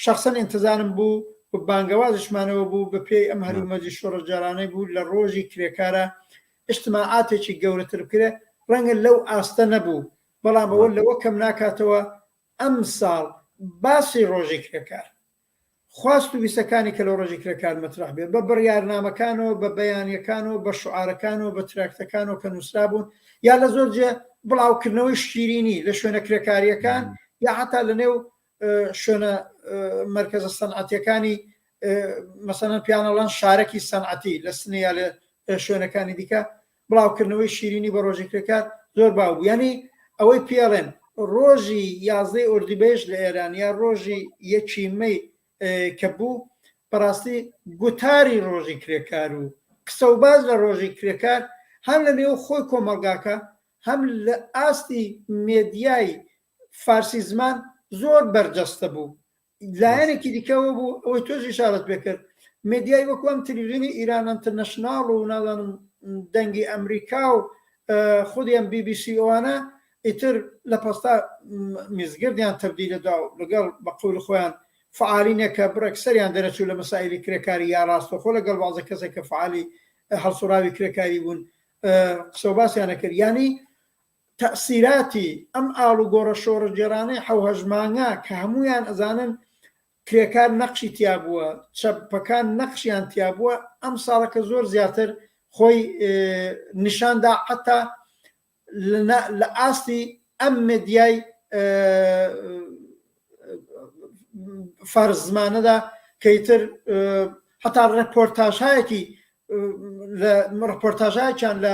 شخصن انتظارم بوو و بانگەوازشمانەوە بوو بە پێی ئەم هەرومەجی شۆڕجارانەی بوو لە ڕۆژی کرێکارە ئشتماعاتێکی گەورەتر بکرێ ڕەنگە لەو ئاستە نەبوو بەڵام ئەوە لەوە کەم ناکاتەوە ئەمساڵ باسی ڕۆژی کرێکار، خواست و ویستەکانی کە لە ڕۆژی کرێکار مەترەح بێ، بە بڕیارنامەکانەوە، بە بەیانیەکانەوە، بە شوعارەکانەوە، بە تراکتەکانەوە کە نوسرابوون، یا لە زۆر جێ بڵاوکردنەوەی شیرینی لە شوێنە کرێکاریەکان، یا حەتا لە نێو شوێنە مەرکەزە سەنعەتیەکانی مەسەلەن پێیان ئەڵێن شارەکی سەنعەتی لە سنەی یا لە شوێنەکانی دیکە، بڵاوکردنەوەی شیرینی بە ڕۆژی کرێکار زۆر باو بوو یانی ئەوەی پێڵێن ڕۆژی یازدەی ئۆردیبێژ لە ئێران یا ڕۆژی یەکی مەی کە بوو بەڕاستی گوتاری ڕۆژی کرێکار و قسە و باز لە ڕۆژی کرێکار هەم لە نێو خۆی کۆمەڵگاکە هەم لە ئاستی مێدیای فارسی زمان زۆر بەرجەستە بوو لایەنێکی دیکەوە بوو ئەوەی تۆش ئیشارەت پێ کرد مێدیای وەکو ئەم تلویزیونی ئیران ئەنترنەشناڵ و نازانم دەنگی ئەمریکا و خودی ئەم بی بی سی ئەوانە ئیتر لە پەستا میزگردیان تبدیلە دا و لەگەڵ بە قول خۆیان فعالینێکە بڕێک سەریان دەرەچوو لە مەسائلی کرێکاری یا ڕاستەخۆ لەگەڵ بازە کەسێک کە فعالی هەڵسوڕاوی کرێکاری بوون قسە و باسیانە کرد یانی تەئسیراتی ئەم ئاڵوگۆڕە شۆڕشگێڕانەی حەو هەشت مانگە کە هەموویان ئەزانن کرێکار نەقشی تیا بووە، چەپەکان نەقشیان تیا بووە، ئەم ساڵەکە زۆر زیاتر خۆی نیشان دا حەتا لە ئاستی ئەم مێدیای فارس زمانەدا کە ئیتر حەتا ڕێپۆرتاژایەکی ڕپۆرتاژایەکیان لە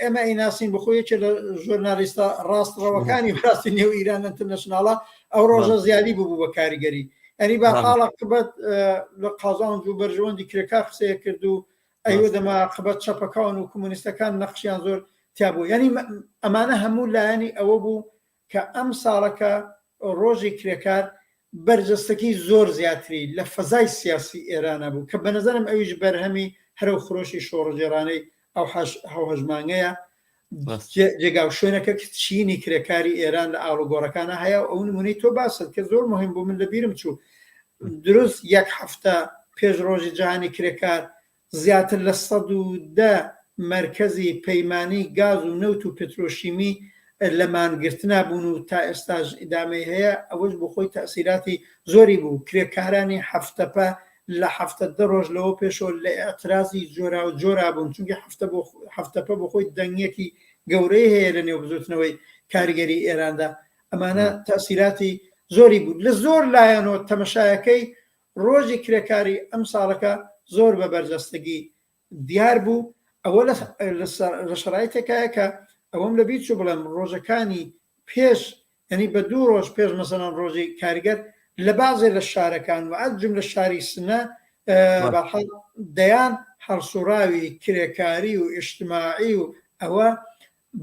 ئێمە ئیناسین بخۆ یەکێ لە ژۆرنالیستە ڕاستڕەوەکانی بڕاستی نێو ئیران ئەترنەشناڵە ئەو ڕۆژە زیادی ببوو بە کاریگەری ئەری با خاڵە قبەت لە قازان و بەرژەوەندی کرێکا قسەیە کرد و ئەیوە دەما قبەت چەپەکان و کمونیستەکان نەخشیان زۆر تیابوو یعنی ئەمانە هەموو لایەنی ئەوە بوو کە ئەمساڵەکە ڕۆژی کرێکار بەرجەستەکەی زۆر زیاتری لە فەزای سیاسی ئێرانا بوو کە بەنەزەرم ئەویش بەرهەمی هەرەو خرۆشی شۆڕگێڕانەی ئەو هەوهەژمانگەیە جێگاو شوێنەکە چینی کرێکاری ئێران لە ئاڵوگۆڕەکانە هەیە و ئەو نمونەی تۆ باسن کە زۆر مهم بوو من لەبیرم چوو دروست یەک هەفتە پێش ڕۆژی جیهانی کرێکار زیاتر لە سەد و دە مەرکەزی پەیمانی گاز و نەوت و پترۆشیمی لە مانگرتنا بوون و تا ئێستاش ئیدامەی هەیە، ئەوەش بۆ خۆی تەئسیراتی زۆری بوو، کرێکارانی حەفتەپە لە حەفتە دە رۆژ لەوە پێشەوە لە ئیعترازی جۆراوجۆرا بوون، چونکی حەفتەپە بۆ خۆی دەنگیەکی گەورەی هەیە لە نێو بزوتنەوەی کارگەری ئێراندا، ئەمانە تەئسیراتی زۆری بوو، لە زۆر لایەنەوە تەمەشایەکەی ڕۆژی کرێکاری ئەمساڵەکە زۆر بە بەرجەستەگی دیار بوو، ئەوە لە شەرایتێکایە کە ئەوەم لە بیر چوو بڵێم ڕۆژەکانی پێش یانی بە دوو ڕۆژ پێش مەسەلەن ڕۆژی کارگەر لە بازێ لە شارەکان و ئەت جملە شاری سنە دەیان هەڵسوڕاوی کرێکاری و ئیشتماعی و ئەوە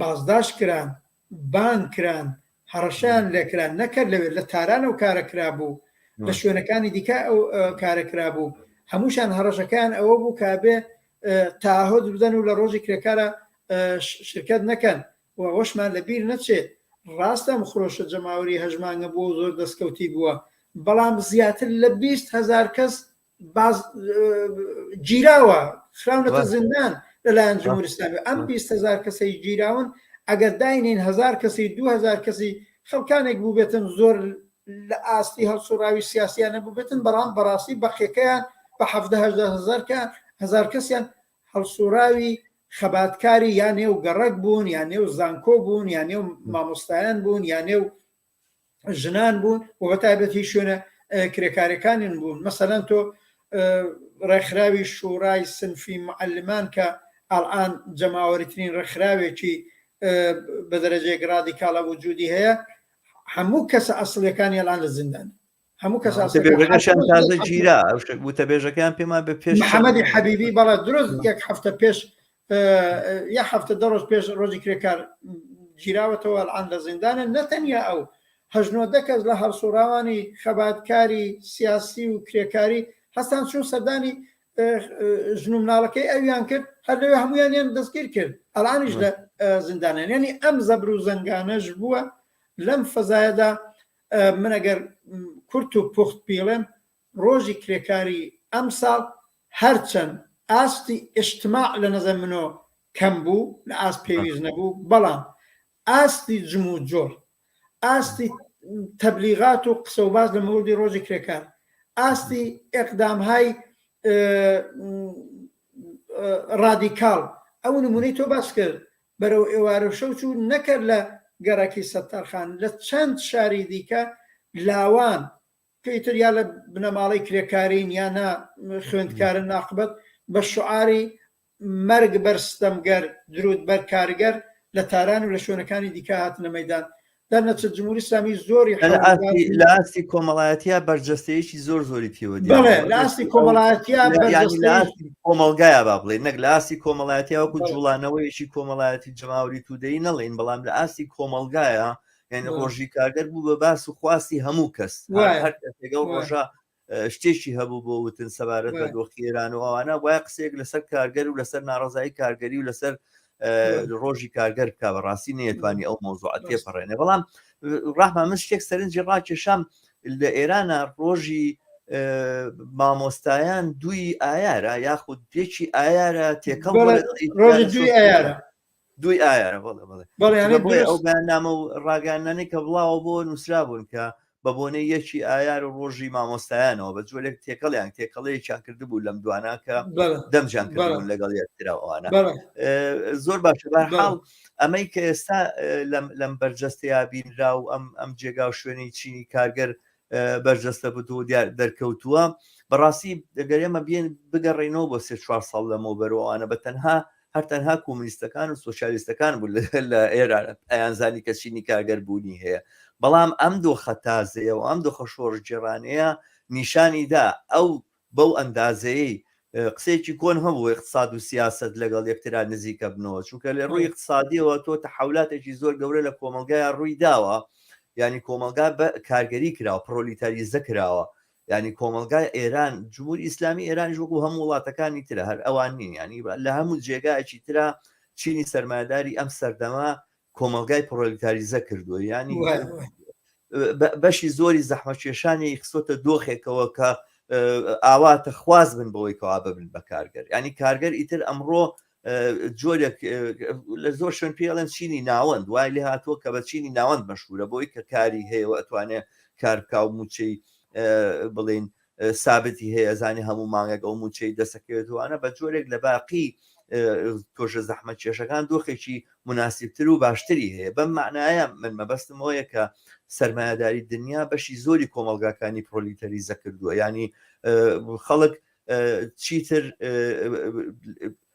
بازداشت کران بان کران هەڕەشەیان لێکرا نەکەر لەوێ لە تاران ئەو کارە کرابوو لە شوێنەکانی دیکە ئەو کارە کرابوو هەمووشان هەڕەشەکان ئەوە بوو کابێ تاهۆت بدەن و لە ڕۆژی کرێکارە شرکت نەکەن و ئەوەشمان لەبیر نەچێت ڕاستەم خرۆشە جەماوەری هەژمانگە بووە زۆر دەستکەوتی بووە بەڵام زیاتر لە بیست هزار کەس باز گیراوە خراونەتە زیندان لەلایەن جمهورستانی ئەم 20 هزار کەسەی گیراون ئەگەر داینین هزار کەسی 2000 کەسی خەڵکانێک بووبێتن زۆر لە ئاستی هەڵسوڕاوی سیاسیانە بووبێتن بەڵام بەڕاستی بەقیەکەیان بە هزارکە هزار کەسیان هەڵسوڕاوی خەباتکاری یان نێو گەڕک بوون یان نێو زانکۆ بوون یان نێو مامۆستایان بوون یان نێو ژنان بوون و بە تایبەتی شوێنە کرێکارەکانیان بوون مەسەەن تۆ ڕێکخراوی شوڕای سنفی معلمان کە ئەڵان جەماوەریترین ڕێکخراوێکی بە دەرەجێک ڕادیکاڵە وجودی هەیە هەموو کەسە ئەسلەکانی ئەڵان لە زیندان هەموو کەس وتەبێژەکەشیان تازە گیرا وتەبێژەکەیان پێمان بە پێش محەممەدی حەبیبی بەڵە درۆست یەک هەفتە پێش یا هەفتە دە ڕۆژ پێش ڕۆژی کرێکار گیراوەتەوە ئەلان لە زیندانە نەتەنیا ئەو هەژنۆ دەکەس لە هەڵسوڕاوانی خەباتکاری سیاسی و کرێکاری هەستان چون سەردانی ژن و مناڵەکەی ئەویان کرد هەر لەوێ هەمویان یان دەستگیر کرد ئەلانیش لە زیندانێن ینی ئەم زەبر و زەنگانەش بووە لەم فەزایەدا من ئەگەر کورت و پوخت بیڵێم ڕۆژی کرێکاری ئەمساڵ هەرچەند ئاستی ئیشتماع لە نەزەر منۆ کەم بوو لە ئاست پێویست نەبوو بەڵام ئاستی جم و جۆر ئاستی تەبلیغات و قسە و باز لە مەوردی ڕۆژی کرێکار ئاستی ئەقدامهای ڕادیکاڵ ئەو نمونەی تۆ باس کرد بەرەو ئێوارە شەو چوو، نەکەر لە گەڕەکی سەتارخان، لە چەند شاری دیکە لاوان، کەی تر یا لە بنەماڵەی کرێکارین یا نا خوێندکارن ناقبەت، بە شوعاری، مەرگ بەر ستەمگەر، دروود بەر کارگەر، لە تاران و لە شوێنەکانی دیکە هاتنە مەیدان. دەرنەچە جمهوری سامی زۆری لە ئاستی کۆمەڵایەتە بەرجەستەیەکی زۆر زۆری پێوە لاستی کۆمەڵایەتی کۆمەلگایە با بڵێ نەک لاستی کۆمەڵایەتی وەکو جوڵانەوەیەکی کۆمەڵایەتی جماوری تودەی نەڵین بەڵام لە ئاستی کۆمەلگایە یعنی ڕۆژی کارگەر بوو بە باس و خواستی هەموو کەس هەر ڕۆژە شتێکی هەبوو بۆ وتن سەبارەت بە دۆخی ئێران و ئەوانە وایە قسەیەک لەسەر کارگەر و لەسەر ناڕزایی کارگەری و لەسەر ڕۆژی کارگەر بکە بە ڕاستی نێتوانی ئەو مۆزوع تێپەڕێنێ بەڵام ڕاحمان من شتێک سەرنجی ڕاکێشام لە ئێرانە ڕۆژی مامۆستایان دوی ئایارە یاخود پێکی ئایارە تێکەڵ دوی ئایارە بەڵێ بەڵێ بەڵێ ئەو بەنامە و ڕاگەانانی کە بڵاوە بۆ نووسرا بوون کە بە بۆنەی یەکی ئایار و ڕۆژی مامۆستایانەوە بە جۆرێک تێکەڵیان تێکەڵەیەکیان کرد بوو لەم دوانە کە دەمجان کردبوون لەگەڵ یەکتراوانە زۆر باشە بەحاڵ ئەمەی کە ئێستا لەم بەرجەستەیە بینرا و ئەم ئەم جێگا و شوێنی چینی کارگەر بەرجەستە بوو و دیار دەرکەوتووە بەڕاستی دەگەر ئێمە بێن بگەڕێنەوە بۆ سێ چوار ساڵ لەمەوە بەرەوانە بە تەنها هەر تەنها کۆمونیستەکان و سوسیالیستەکان بوو لە ئێرا ئەیانزانی کە چینی کارگەر بوونی هەیە بەڵام ئەم دۆخە تازەیە و ئەم دۆخە شۆڕژێڕانەیە نیشانی دا ئەو بەو ئەندازەیەی قسەیەکی کۆن هەبوو ئیقتساد و سیاسەت لەگەڵ یەکترا نزیکە بنەوە چونکە لە ڕووی ئیقتسادیەوە تۆ تەحەولاتێکی زۆر گەورە لە کۆمەڵگایا ڕووی داوە یانی کۆمەڵگا بە کارگەری کراوە پڕۆلیتاریزە کراوە یعنی کۆمەلگای ئێران جمهوری ئیسلامی ئێرانیش وەکو هەموو وڵاتەکانی ترە هەر ئەوان نین ینی لە هەموو جێگایەکی ترا چینی سەرمایداری ئەم سەردەما کۆمەڵگای پڕۆلیتاریزە کردووە ینی بەشی زۆری زەحمەکێشانی خسۆتە دۆخێکەوە کە ئاواتە خواز بن بەوەی کەوا ببن بە کارگەر ینی کارگەر ئیتر ئەمڕۆ جۆرێک لە زۆر شوێن پێڵێن چینی ناوەند وای لێ هاتووە کە بە چینی ناوەند مەشهورە بۆی کە کاری هەیەەوە ئەتوانێت کارکاو موچەی بڵین سابتی هەیە ئەزانی هەموو مانگێک ئەو موچەی دەسەکەوێتوانە بە جۆرێک لە باقی تۆشە زەحمە کێشەکان دۆخێکی مناسیبتر و باشتری هەیە بەم معناە من مەبەستم هۆیە کە سرمایهداری دنیا بەشی زۆری کۆمەلگاکانی پرۆلیتەری زەکردووە ینی خەڵک چیتر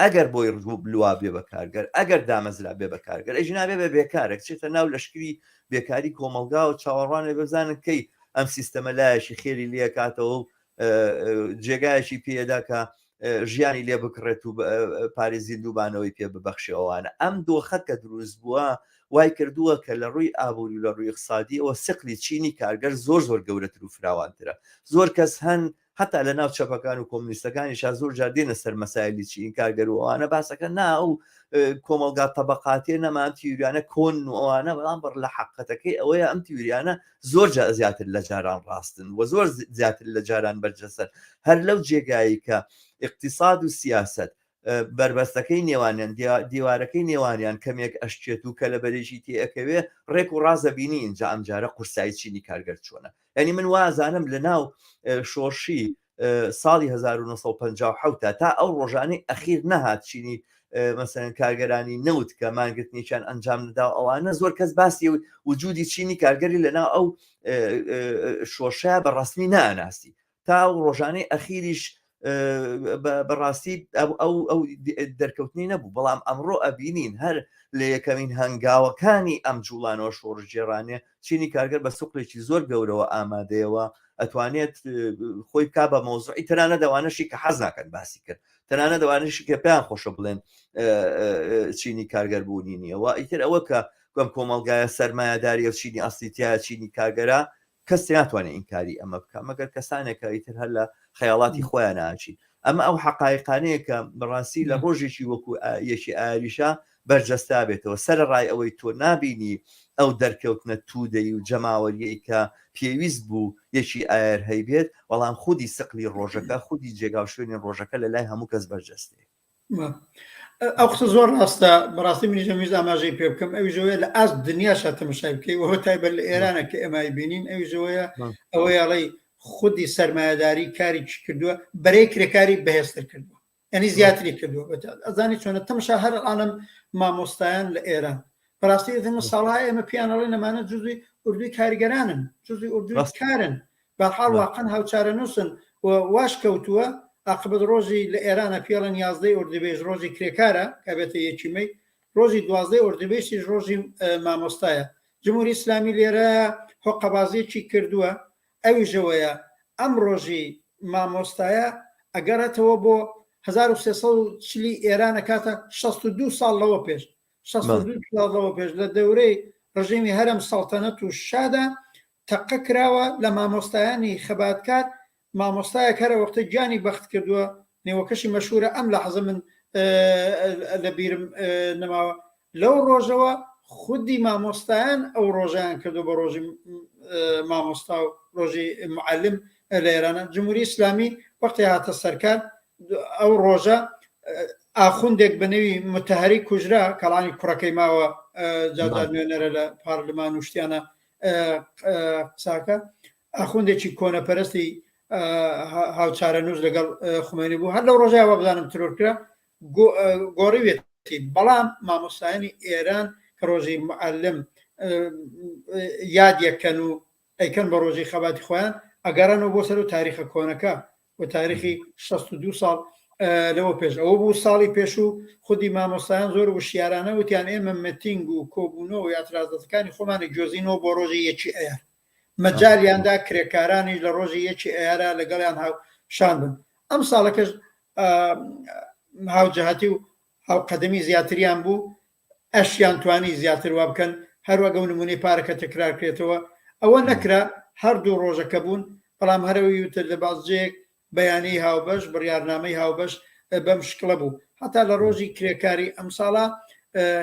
ئەگەر بۆی ڕگو بلوا بێ بە کارگەر، ئەگەر دامەزرا بێ بە کارگەر، ئەی ژنان بێ بە بێکارەک چێتە ناو لەشکری بێکاری کۆمەڵگاوە، چاوەڕوان بێ بزانن کەی ئەم سیستەمە لایەکی خێری لێ کاتەوە و جێگایەکی پێ دا کە ژیانی لێ بکڕێت و پارێ زیندووبانەوەی پێ ببەخشێ ئەوانە ئەم دۆخە کە دروست بووە وای کردووە کە لە ڕووی ئابووری و لە ڕووی اقتصادیەوە سقلی چینی کارگەر زۆر زۆر گەورەتر و فراوانترە زۆر کەس هەن هەتا لە ناو چەپەکان و کۆمنیستەکانیشا زۆر جار دێنە سەر مەسایلی چی ئینکارگەر و ئەوانە باسەکە نا ئەو کۆمەلگا تەبقاتێ نەمان تیوریانە کۆن و ئەوانە بەڵام بڕ لە حقەتەکەی ئەوەیە ئەم تیوریانە زۆر جا زیاتر لە جاران ڕاستن و زۆر زیاتر لە جاران بەرجەسەر هەر لەو جێگایی کە اقتصاد و سیاست بەربەستەکەی نێوانیان دیوارەکەی نێوانیان کەمێک ئەشچێت و کەلەبەرێکی تێ ئەکەوێ ڕێک و ڕاز ئەبینی ئینجا ئەمجارە قورسایی چینی کارگەر چۆنە یعنی من وازانم لە ناو شۆرشی ساڵی 1950 تا تا ئەو ڕۆژانەی ئەخیر نەهات چینی مەسەن کارگەرانی نەوت کە مانگرتنیان ئەنجام ندا ئەوانە زۆر کەس باسی وجودی چینی کارگەری لەناو ئەو شۆشە بە ڕسمی ناناسی تا ئەو ڕۆژانەی ئەخیریش بەڕاستی ئەو دەرکەوتنی نەبوو بەڵام ئەمڕۆ ئەبینین هەر لە یەکەمین هەنگاوەکانی ئەم جوڵانەوە شۆڕژێرانێ چینی کارگەر بە سوقلێکی زۆر گەورەوە ئامادەیەوە ئەتوانێت خۆی کا بە مۆزعی تەرانە دەوانەشی کە حەز ناکەن باسی کرد تەنانە دەوانشی کە پێیان خۆشە بڵێن چینی کارگەر بوونی نییەوە ئیتر ئەوە کە گوم کۆمەلگایە سەرمایەداری و چینی ئەسلیتیا چینی کارگەرە کەس ناتوانێت ئینکاری ئەمە بکە مەگەر کەسانێکە ئیتر هەر لە خەیاڵاتی خۆیان ناچین ئەمە ئەو حقایقانەیە کە بەڕاستی لە ڕۆژێکی وەکو یەکی ئاریشە بەرجەستا بێتەوە سەر ڕای ئەوەی تۆ نابینی ئەو دەرکەوتنە تودەی و جەماوەریەی کە پێویست بوو یەکی ئاەر هەیبێت بەڵام خودی سقلی ڕۆژەکە خودی جێگا و شوێنی ڕۆژەکە لە لای هەموو کەس بەرجەستەیە ئەو قسە زۆر ڕاستە بەڕاستی منیش ئەمویست ئاماژەی پێ بکەم ئەوی ژۆیە لە ئاست دنیا شاتەمەشای بکەی وەوە تایبەت لە ئێرانە کە ئێمای بینین ئەوی ژۆیە ئەوەی ئەڵی خودی سرمایهداری کاری چی کردووە بەرەی کرێکاری بەهێزتر کردووە ئەنی زیاتری کردووە ئەزانی چۆنە تەمشا هەر ئاڵم مامۆستایان لە ئێران بەڕاستی من ساڵای ئێمە پیانەڵی نەمانە جزوی اردوی کارگەرانن جزوی اردو کارن بەحاڵ واقعەن هاوچارەنووسن و واش کەوتووە، ئاقبەت ڕۆژی لە ئێرانە پێڵێن یازدەی ئوردوبێژ ڕۆژی کرێکارە کە ئەبێتە یەکی مەی، ڕۆژی دوازدەی ئوردوبێشتیش ڕۆژی مامۆستایە. جمهوری ئیسلامی لێرە هۆقەبازیەکی کردووە ئەویش ئەوەیە ئەم ڕۆژی مامۆستایە ئەگەڕێتەوە بۆ هەزار و سێ سەد و چل ی ئێران ئەکاتە شەست و دوو ساڵ لەوە پێش شەست و دوو ساڵ لەوە پێش لە دەورەی ڕژێمی هەرەم سەڵتەنەت و شادا تەقە کراوە لە مامۆستایانی خەباتکار مامۆستایەک هەرە وەختە گیانی بەخت کردووە نێوەکەشی مەشورە ئەم لە حەزە من لە بیرم نەماوە لەو ڕۆژەوە خودی مامۆستایان ئەو ڕۆژیان کردو بە ڕۆژی مامۆستا و ڕۆژی معلم لە ئێرانە جمهوری ئسلامی وەختی هاتە سەرکار ئەو ڕۆژە ئاخوندێک بە نەوی متهری کوژرا کەڵانی کوڕەکەی ماوە جادا نوێنەرە لە پارلمان و شتیانە قساکە ئاخوندێکی کۆنە پەرستی هاوچارە نووز لەگەڵ خومێنی بوو هەر لەو ڕۆژای وەبزانم ترۆر کرا گۆڕیوێت بەڵام مامۆستایانی ئێران کە ڕۆژی معلم یادیەکەن و ئەیکەن بە ڕۆژی خەباتی خۆیان ئەگەڕنەوە بۆ سەر و تاریخە کۆنەکە و تاریخی شەست و دوو ساڵ لەوە پێش ئەوە بوو ساڵی پێشوو خودی مامۆستایان زۆر وشیارانە وتیان ئێمە متینگ و کۆبوونەوە و یاترازەتەکانی خۆمانی جۆزینەوە بۆ ڕۆژی یەکی ئەیار مەجالیاندا کرێکارانیش لە ڕۆژی یەکی ئەیارە لەگەڵیان هاو شان بن ئەم ساڵەکەش هاوجهاتی و هاوقەدەمی زیاتریان بوو ئەشیان توانی زیاتر وا بکەن، هەروەک ئەو نموونەی پارەکە تەکرار کرێتەوە، ئەوە نەکرا، هەر دوو ڕۆژە کە بوون، بەڵام هەر ئەوی وتت لە بازجەیەک بەیانیی هاوبەش، بڕیارنامەی هاوبەش بەم شکڵە بوو، هەتا لە ڕۆژی کرێکاری ئەمساڵا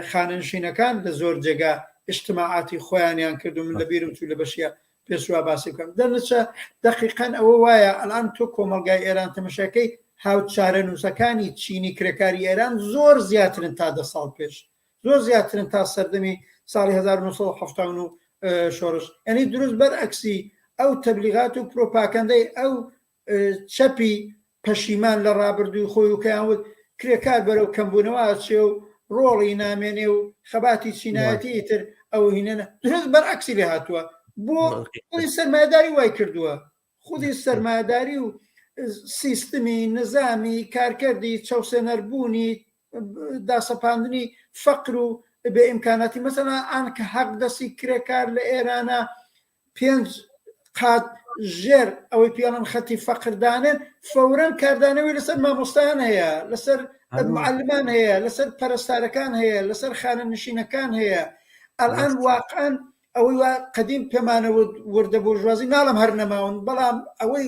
خانەنشینەکان لە زۆر جێگا ئیجتماعاتی خۆیانیان کرد و من لە بیرم چوو لە بەشی پێشوا باسی بکەم دەنچە دقیقەن ئەوە وایە ئەلان تۆ کۆمەلگای ئێران تەمەشەکەی هاو چارەنووسەکانی چینی کرێکاری ئێران زۆر زیاترن تا دە ساڵ پێش زۆر زیاترن تا سەردەمی ساڵی 1970 شۆرش ئەنی دروست بەر ئەکسی ئەو تەبلیغات و پرۆپاکەندەی ئەو چەپی پەشیمان لە ڕابردووی خۆی و کەیان وت کرێکار بەرەو کەمبوونەوە ئەچێ و ڕۆڵی نامێنێ و خەباتی چینایەتی ئیتر ئەو هینەنە درست بەرعەکسی لێ هاتووە بۆ خودی سەرمایەداری وای کردووە خودی سەرمایەداری و سیستمی نظامی کارکردی چەوسێنەربوونی داسەپاندنی فەقر و بێ ئیمکاناتی مەسەلا ئان کە حەق دەستی کرێکار لە ئێرانە پێنج قات ژێر ئەوەی پێڵن خەتی فەقردانن فورەن کاردانەوەی لەسەر مامۆستایان هەیە لەسەر معلمان هەیە لەسەر پەرستارەکان هەیە لەسەر خانە نشینەکان هەیە ئەلان واقعان ئەوەی قدیم پێمانە وردە بۆژوازی ناڵم هەر نەماون بەڵام ئەوەی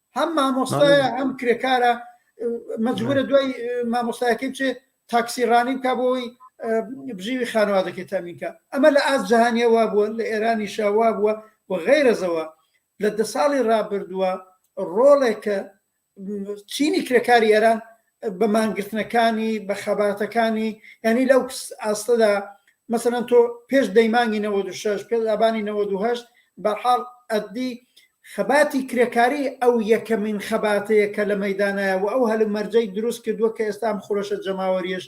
هەم مامۆستایە هەم کرێکارە مەجبورە دوای مامۆستایەکەی بچێت تاکسی ڕانی بکە بۆی بژیوی خانوادەکەی تامینکە ئەمە لە ئاست جیهانیە وا بووە لە ئێرانی شاوا بووە و غیرەزەوە لە دە ساڵی ڕابردووە ڕۆڵێکە چینی کرێکاری ئێران بە مانگرتنەکانی بە خەباتەکانی یعنی لەو ئاستەدا مەسەەن تۆ پێش دەیمانگی 96 پێ ئابانی 98 بەحاڵ ئەدی خەباتی کرێکاری ئەو یەکەمین خەباتەیە کە لە مەدانایە و ئەو هەلو مەرجەی دروست کردووە کە ئێستام خۆشە جەماوەریش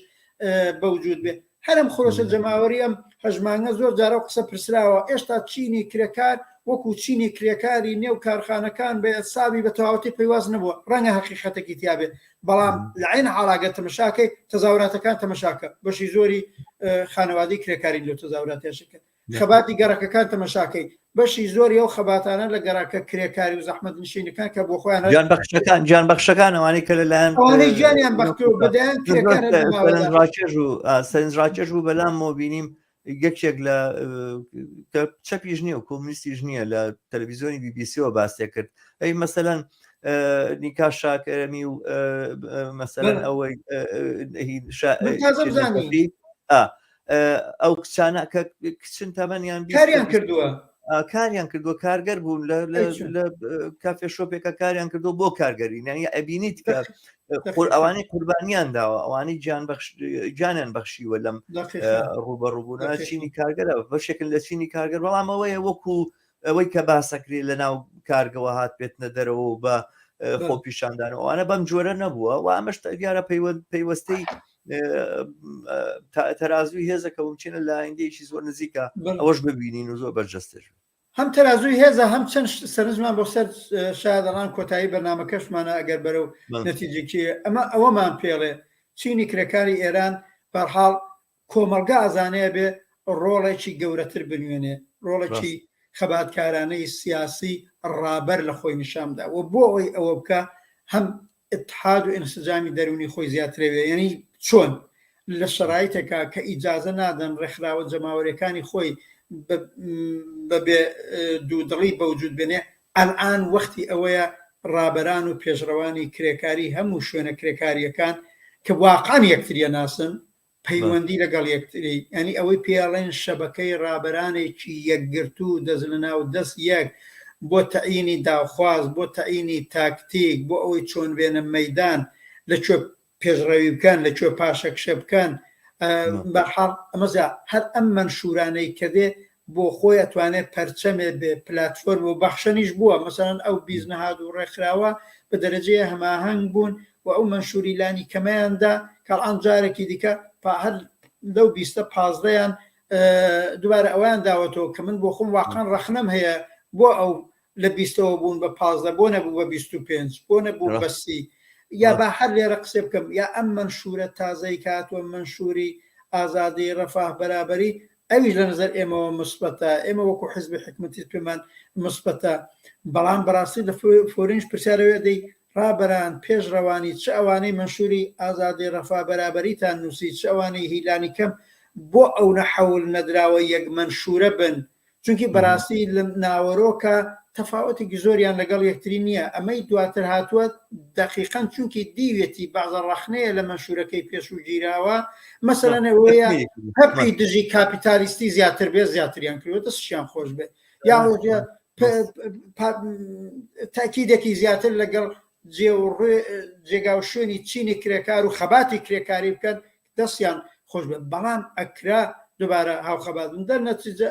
بەوجود بێت هەرم خرۆشە جەماوەری ئەم هەژمانگە زۆر جارە و قسە پرسراوە ئێشتا چینی کرێکار وەکو چینی کرێکاری نێو کارخانەکان بە ئەسابی بە تەواوەتی پەیواز نەبووە ڕەنگە هەقیقەتەکی تیابێت بەڵام لە عین عالاگە تەمەشاکەی تەزاوراتەکان تەمەشاکە بەشی زۆری خانەوادی کرێکاری لەو تەزاوراتێشکرد خەباتی گەڕەکەکان تەمەشاکەی بەشی زۆری ئەو خەباتانە لە گەڕاکە کرێکاری و زەحمەت نشینەکان کە بۆ خۆیان گیان بەخشەکان گیان بەخشەکان ئەوانەی کە لەلایەن ئەوانەی گیانیان بەخت و بەدەیان کرێکار هەر بە ماوەی سەرنج ڕاکێش و ئا، سەرنج ڕاکێش بوو بەلام مۆ بینیم یەکێک لە کە چەپیش نییە و کۆمونیستیش نییە لە تەلەڤیزیۆنی بی بی سیەوە باسێ کرد ئەی مەسەەن نیکا شاکەرەمی و مەسەەن بەڵێ. ئەوەی ئه، هی شا- من تازە بزانیم. شیرین ئا، ئەو کچانە کە کچن تەمەنیان کاریان کردووە کاریان کردووە کارگەر بوون لە کافێ شۆپێکە کاریان کردو بۆ کارگەری نانی ئەبینیت کە خۆر ئەوانەی قوربانیان داوە ئەوانەی جان جانیان بەخشیوە لەم ڕوبەڕوبوونا چینی کارگەرە بەشێکن لە چینی کارگەر بەڵامەوەیە وەکو ئەوەی کە باسەکری لە ناو کارگەوە هات بێتنە دەرەوە و بە خۆپیشاندان ئەوانە بەم جۆرە نەبووە و ئەمەش دیارە پەیوەستەی تەرازوی هێزە کە بچینە لایەنگەیەکی زۆر نزیکە ئەوەش ببینین و زۆر بەرجەستێش هەم تەرازوی هێزە هەم چەند سەرنجمان بۆ سەر شادەڕان کۆتایی بەنامەکەشمانە ئەگەر بەرە و نەتیجێکی ئەمە ئەوەمان پێڵێ چینی کرێکاری ئێران بەرحاڵ کۆمەڵگا ئەزانێ ئەبێ ڕۆڵێکی گەورەتر بنوێنێ، ڕۆڵێکی ڕاست. خەباتکارانەی سیاسی ڕابەر لە خۆی نیشان بدا و بۆ ئەوەی ئەوە بکا هەم ئیتحاد و ئینسجامی دەروونی خۆی زیاترە بێ یانی چۆن لە شەرایتێکا کە ئیجازە نادەن ڕێکخراوە جەماوەریەکانی خۆی بە بە بێ دوو دڵی بەوجود بێنێ ئەلئان وەختی ئەوەیە ڕابەران و پێشڕەوانی کرێکاری هەموو شوێنە کرێکاریەکان کە واقعەن یەکتریە ناسن پەیوەندی لەگەڵ یەکتری یانی ئەوەی پێڵێن شەبەکەی ڕابەرانێکی یەکگرتو و دەست لەناو دەست یەک بۆ تەعینی داوخواز بۆ تەعینی تاکتیک بۆ ئەوەی چۆن بێنە مەیدان لە کوێ پێشڕەوی بکەن لە کوێ پاشەکشە بکەن بەحاڵ ئەمەزا هەر ئەم مەنشورانەی کە دێ بۆ خۆی ئەتوانێ پەرچەمێ بێ پلاتفۆرم و بەخشەنیش بووە مەسەلەن ئەو بیست نەهاد و ڕێکخراوە بە دەرەجەیە هەماهەنگ بوون و ئەو مەنشوری لانی کەمەیان دا کە ئەڵآن جارەکی دیکە پا هەر لەو بیستە پازدەیان دوبارە ئەوەیان داوەتەوە کە من بۆ خۆم واقعەن ڕەخنەم هەیە بۆ ئەو لە بیستەوە بوون بە پازدە بۆ نەبوو بە بیست و پێنج بۆ نەبوو بە سی یا با هەر لێرە قسەی بکەم یا ئەم مەنشورە تازەی کە هاتووە مەنشوری ئازادی ڕەفاه بەرابەری ئەویش لە نەزەر ئێمەوە مسبەتە ئێمە وەکو حزبی حکومەتیش پێمان مسبەتە بەڵام بەڕاستی لە فۆرینش پرسیارەوەێ دەی ڕابەران پێش ڕەوانی چ ئەوانەی مەنشوری ئازادی ڕەفا بەرابەریتان نووسی چ ئەوانەی هیلانی کەم بۆ ئەو نە حەول نەدراوە یەک مەنشورە بن چونکی بەراستی لە ناوەرۆکە تەفاوەتێکی زۆریان لەگەڵ یەکتری نییە ئەمەی دواتر هاتووە دەقیقەن چونکی دیوێتی بەعزە ڕەخنەیە لە مەنشورەکەی پێشوو گیراوە مەسەلەنە وەیە هەپی دژی کاپیتالیستی زیاتر بێ زیاتریان کردوەتە سشیان خۆش بێت یا تاکیدێکی زیاتر لەگەڵ جێ و ڕێ جێگا و شوێنی چینی کرێکار و خەباتی کرێکاری بکەن دەستیان خۆش بێت بەڵام ئەکرا دوبارە هاوخەبات بن دەر نەتیجە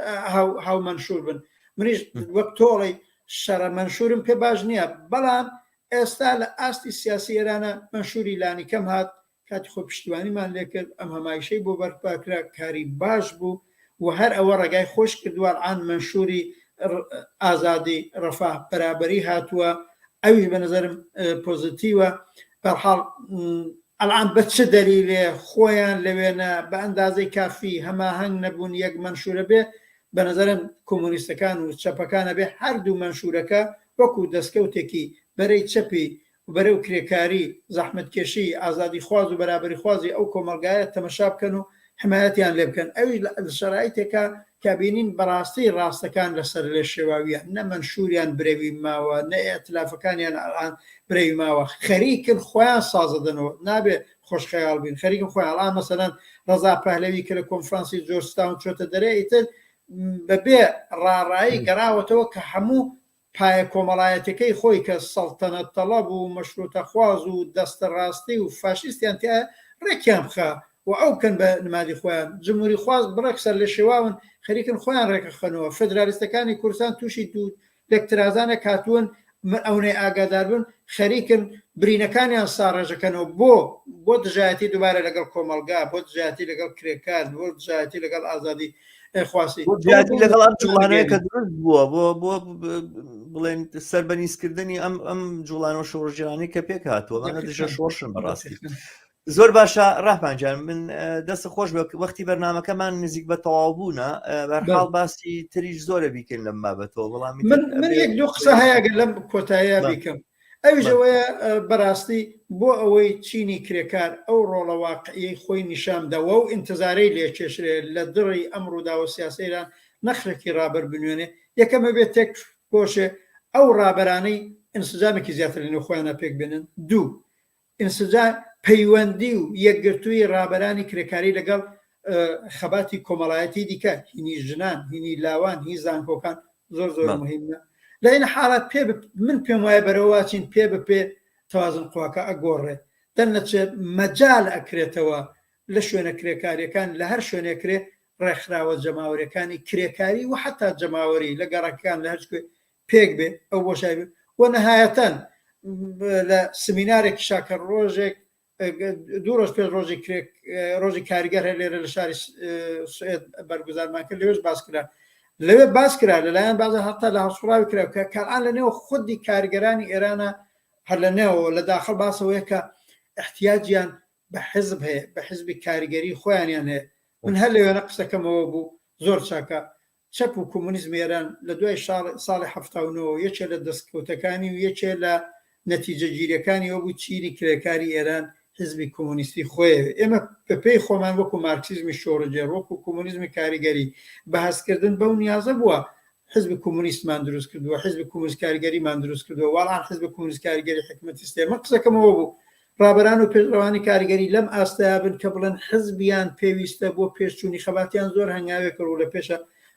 هاو مەنشور بن منیش وەک تۆڵی شەڕە مەنشورم پێ باش نییە بەڵام ئێستا لە ئاستی سیاسی ئێرانە مەنشوری لانی کەم هات کاتی خۆ پشتیوانیمان لێکرد ئەم هەمایشەی بۆ بەرپاکرا کاری باش بوو و هەر ئەوە ڕێگای خۆش کردووە ئەڵآن مەنشووری ئازادی، ڕەفاه، بەرابەری هاتووە ئەویش بە نەزەرم پۆزەتیوە بەرحاڵ ئەڵآن بە چ دەلیلێ خۆیان لە وێنە بە ئەندازەی کافی هەماهەنگ نەبوون یەک مەنشوورە بێ بە نەزەرم کۆمۆنیستەکان و چەپەکان ئەبێ هەردوو مەنشوورەکە وەکوو دەسکەوتێکی بەرەی چەپی و بەرەو کرێکاری، زەحمەتکێشی، ئازادیخواز و بەرابەریخوازی ئەو کۆمەڵگایە تەمەشا بکەن و حمایەتیان لێ بکەن، ئەویش لە شەرایتێکا کە بینین بەڕاستی ڕاستەکان لە سەر لێ شێواویان، نە مەنشوریان برەوی ماوە، نە ئیتلافەکانیان ئەلئان برەوی ماوە، خەریکن خۆیان سازە دەنەوە، نابێ خۆش خەیاڵ بین، خەریکن خۆیان ئەلئان مەسەلەن ڕەزا پەهلەوی کە لە کۆنفرانسی جۆرجتاون چۆتە دەرێ ئیتر بە بێ ڕاڕایی گەراوەتەوە کە هەموو پایە کۆمەڵایەتیەکەی خۆی کە سەڵتەنەت تەڵەب و مەشروتەخواز و دەستە ڕاستی و فاشیستیان تیایە ڕێکیان بخا و ئەو بکەن بە نمادی خۆیان، جمهوری خواز بڕێک سەرلێشێواون خەریکن خۆیان ڕێکخەنەوە، فدرالیستەکانی کوردستان توشی دوو لەک ترازانێک هاتوون ئەونەی ئاگاداربن خەریکن برینەکانیان ساڕێژەکەنەوە بۆ؟ بۆ دژایەتی دوبارە لەگەڵ کۆمەڵگا، بۆ دژایەتی لەگەڵ کرێکار، بۆ دژایەتی لەگەڵ ئازادی جیاتی لەگەڵ ئەم جوڵانەیە کە دروست بووە بۆ بۆ بڵێن سربەنیزکردنی ئەم ئەم جوڵان و شۆڕژیرانی کە پێک هاتووە مانە دژە شۆڕشن بەڕاستی زۆر باشە ڕاپانجان من دەست خۆش بە وەختی بەرنمەکەمان نزیک بە تەواو بوونە بەرحاڵ باسی تریش زۆرە بیکەین لەم بابەتەوە بەڵام من یەک دو قسە هەیەگە لەم کۆتایە بیکەم ئەویش ئەوەیە بەراستی بۆ ئەوەی چینی کرێکار ئەو ڕۆڵە واقعیەی خۆی نیشان بدەوە و ئینتزارەی لێ کێشرێ لە دڕی ئەم ڕووداوە سیاسەیلە نەخرەکی ڕابەر بنوێنێ یەکەم ئەبێ تێک کۆشێ ئەو ڕابەرانەی ئینسجامێکی زیاتر لە نێو خۆیانا پێک بێنن دوو ئینسجام، پەیوەندی و یەکگرتوویی ڕابەرانی کرێکاری لەگەڵ خەباتی کۆمەڵایەتی دیکە، هینی ژنان، هینی لاوان، هی زانکۆکان زۆر زۆر مهمە. لە هینە حاڵات پێ من پێم وایە بەرەوەواچین پێ بە پێ توازن قواکە ئەگۆڕێ، دەرنەچێ مەجال ئەکرێتەوە لە شوێنە کرێکاریەکان لە هەر شوێنێ کرێ ڕێکخراوە جەماوەریەکانی کرێکاری و حەتا جەماوەری لە گەڕەکەکان لە هەرچ کوێ پێک بێ ئەو بۆشای بێ و نەهایەتەن لە سمینارێکی شاکە ڕۆژێک دوو ڕۆژ پێش ڕۆژی کرێک ڕۆژی کاریگەر هەر لێرە لە شاری سوێت بەرگزارمان کرد لەوێش باس کرا لەوێ باس کرا لەلایەن بازە هەتا لە هەسوڕاوی کرا کە کاران لە نێو خودی کارگەرانی ئێرانە هەر لە نێەوە لە داخل باسەوەیە کە احتیاجیان بە حزب هەیە بە حزبی کاریگەری خۆیانیان هەیە من هەر لەوێنە قسەکەمەوە بوو زۆر چاکە چەپ و کۆمۆنیزمی ئێران لە دوای ساڵی حەفتا و نۆ یەکێ لە دەستکەوتەکانی و یەکێ لە نەتیجەگیریەکانی ئەوە بوو چینی کرێکاری ئێران حیزبی کۆمۆنیستی خۆێ ئێمە بە پێی خۆمان وەکوو مارکسیزمی شۆڕگێڕ وەکوو کۆمۆنیزمی کاریگەری بە هەست کردن بەو نیازە بووە حزبی کۆمۆنیستمان دروست کردووە حزبی کۆمۆنیست کاریگەریمان دروست کردووە واڵان حزبی کۆمۆنیست کاریگەری حکومەتی سلێمان قسەکەمەوە بوو ڕابەران و پێشڕەوانی کاریگەری لەم ئاستەیا بن کە بڵێن حزبیان پێویستە بۆ پێشچوونی خەباتیان زۆر هەنگاوێکە ڕوو لە پێشە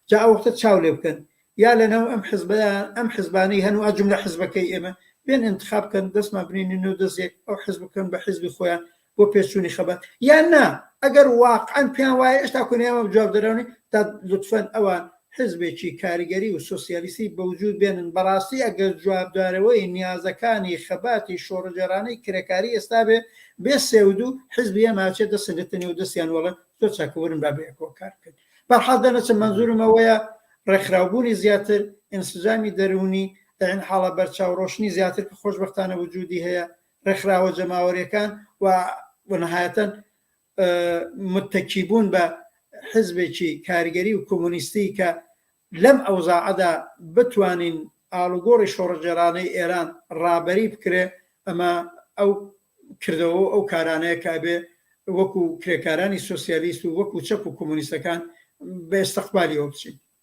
جا ئەوەختە چاو لێ بکەن یا لە ناو ئەم حزبەیا ئەم حزبانەی هەن و ئە جوملە حزبەکەی ئێمە بێن ئینتخاب بکەن دەستمان بنێنن و دەستێک ئەو حزب بکەن بە حزبی خۆیان بۆ پێشچوونی خەبات یان نا ئەگەر واقعەن پێیان وایە ئێشتا کونیان جواب دەراونی تا لطفەن ئەوان حزبێکی کارگەری و سۆسیالیستی بەوجود بێنن، بەڕاستی ئەگەر جوابدارەوەی نیازەکانی خەباتی شۆڕجێڕانەی کرێکاری ئێستا بێ، بێ سێودوو حزبی ئێمە ئەچێتە سنگتنی و دەستیان وەڵێ زۆر چاکە ورن با بەیەکەوە کار بکەین. بەرحاڵ دەرنەچم مەنزورم ئەوەیە ڕێکخراوبوونی زیاتر، ئینسجامی دەروونی، لەین حاڵە بەرچاو ڕۆشنی زیاتر کە خۆشبەختانە وجودی هەیە، ڕێکخراوە جەماوەریەکان و و نەهایەتەن متەکی بوون بە حزبێکی کارگەری و کۆمۆنیستی کە لەم ئەوزاعەدا بتوانین ئاڵوگۆڕی شۆڕشگێڕانەی ئێران ڕابەری بکرێ، ئەمە ئەو کردەوە و ئەو کارانەیە کە ئەبێ وەکوو کرێکارانی سۆسیالیست و وەکوو چەپ و کۆمۆنیستەکان بە ئێستقبالیەوە بچین.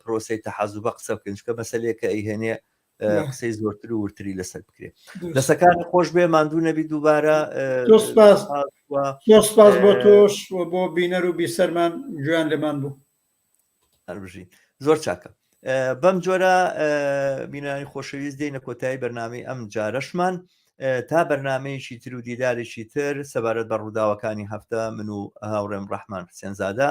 پرۆسەی تەحەزوبە قسە بکەین چکە مەسلێکە ئەیهێنێ قسەی زۆرتر و ورتری لەسەر بکرێت دەسەکانی خۆش بێ ماندوو نەبی دووبارە سپاس بۆ تۆش بۆ بینەر و بیسەرمان جویان لەمان بوو هەربژین زۆر چاکە بەم جۆرە بینانی خۆشەویست دێنە کۆتایی بەرنامی ئەم جارەشمان تا بەرنمەیەکی تر و دیدارێکی تر سەبارەت بە ڕووداوەکانی هەفتە من و هاوڕێم ڕەحمان سێنزادا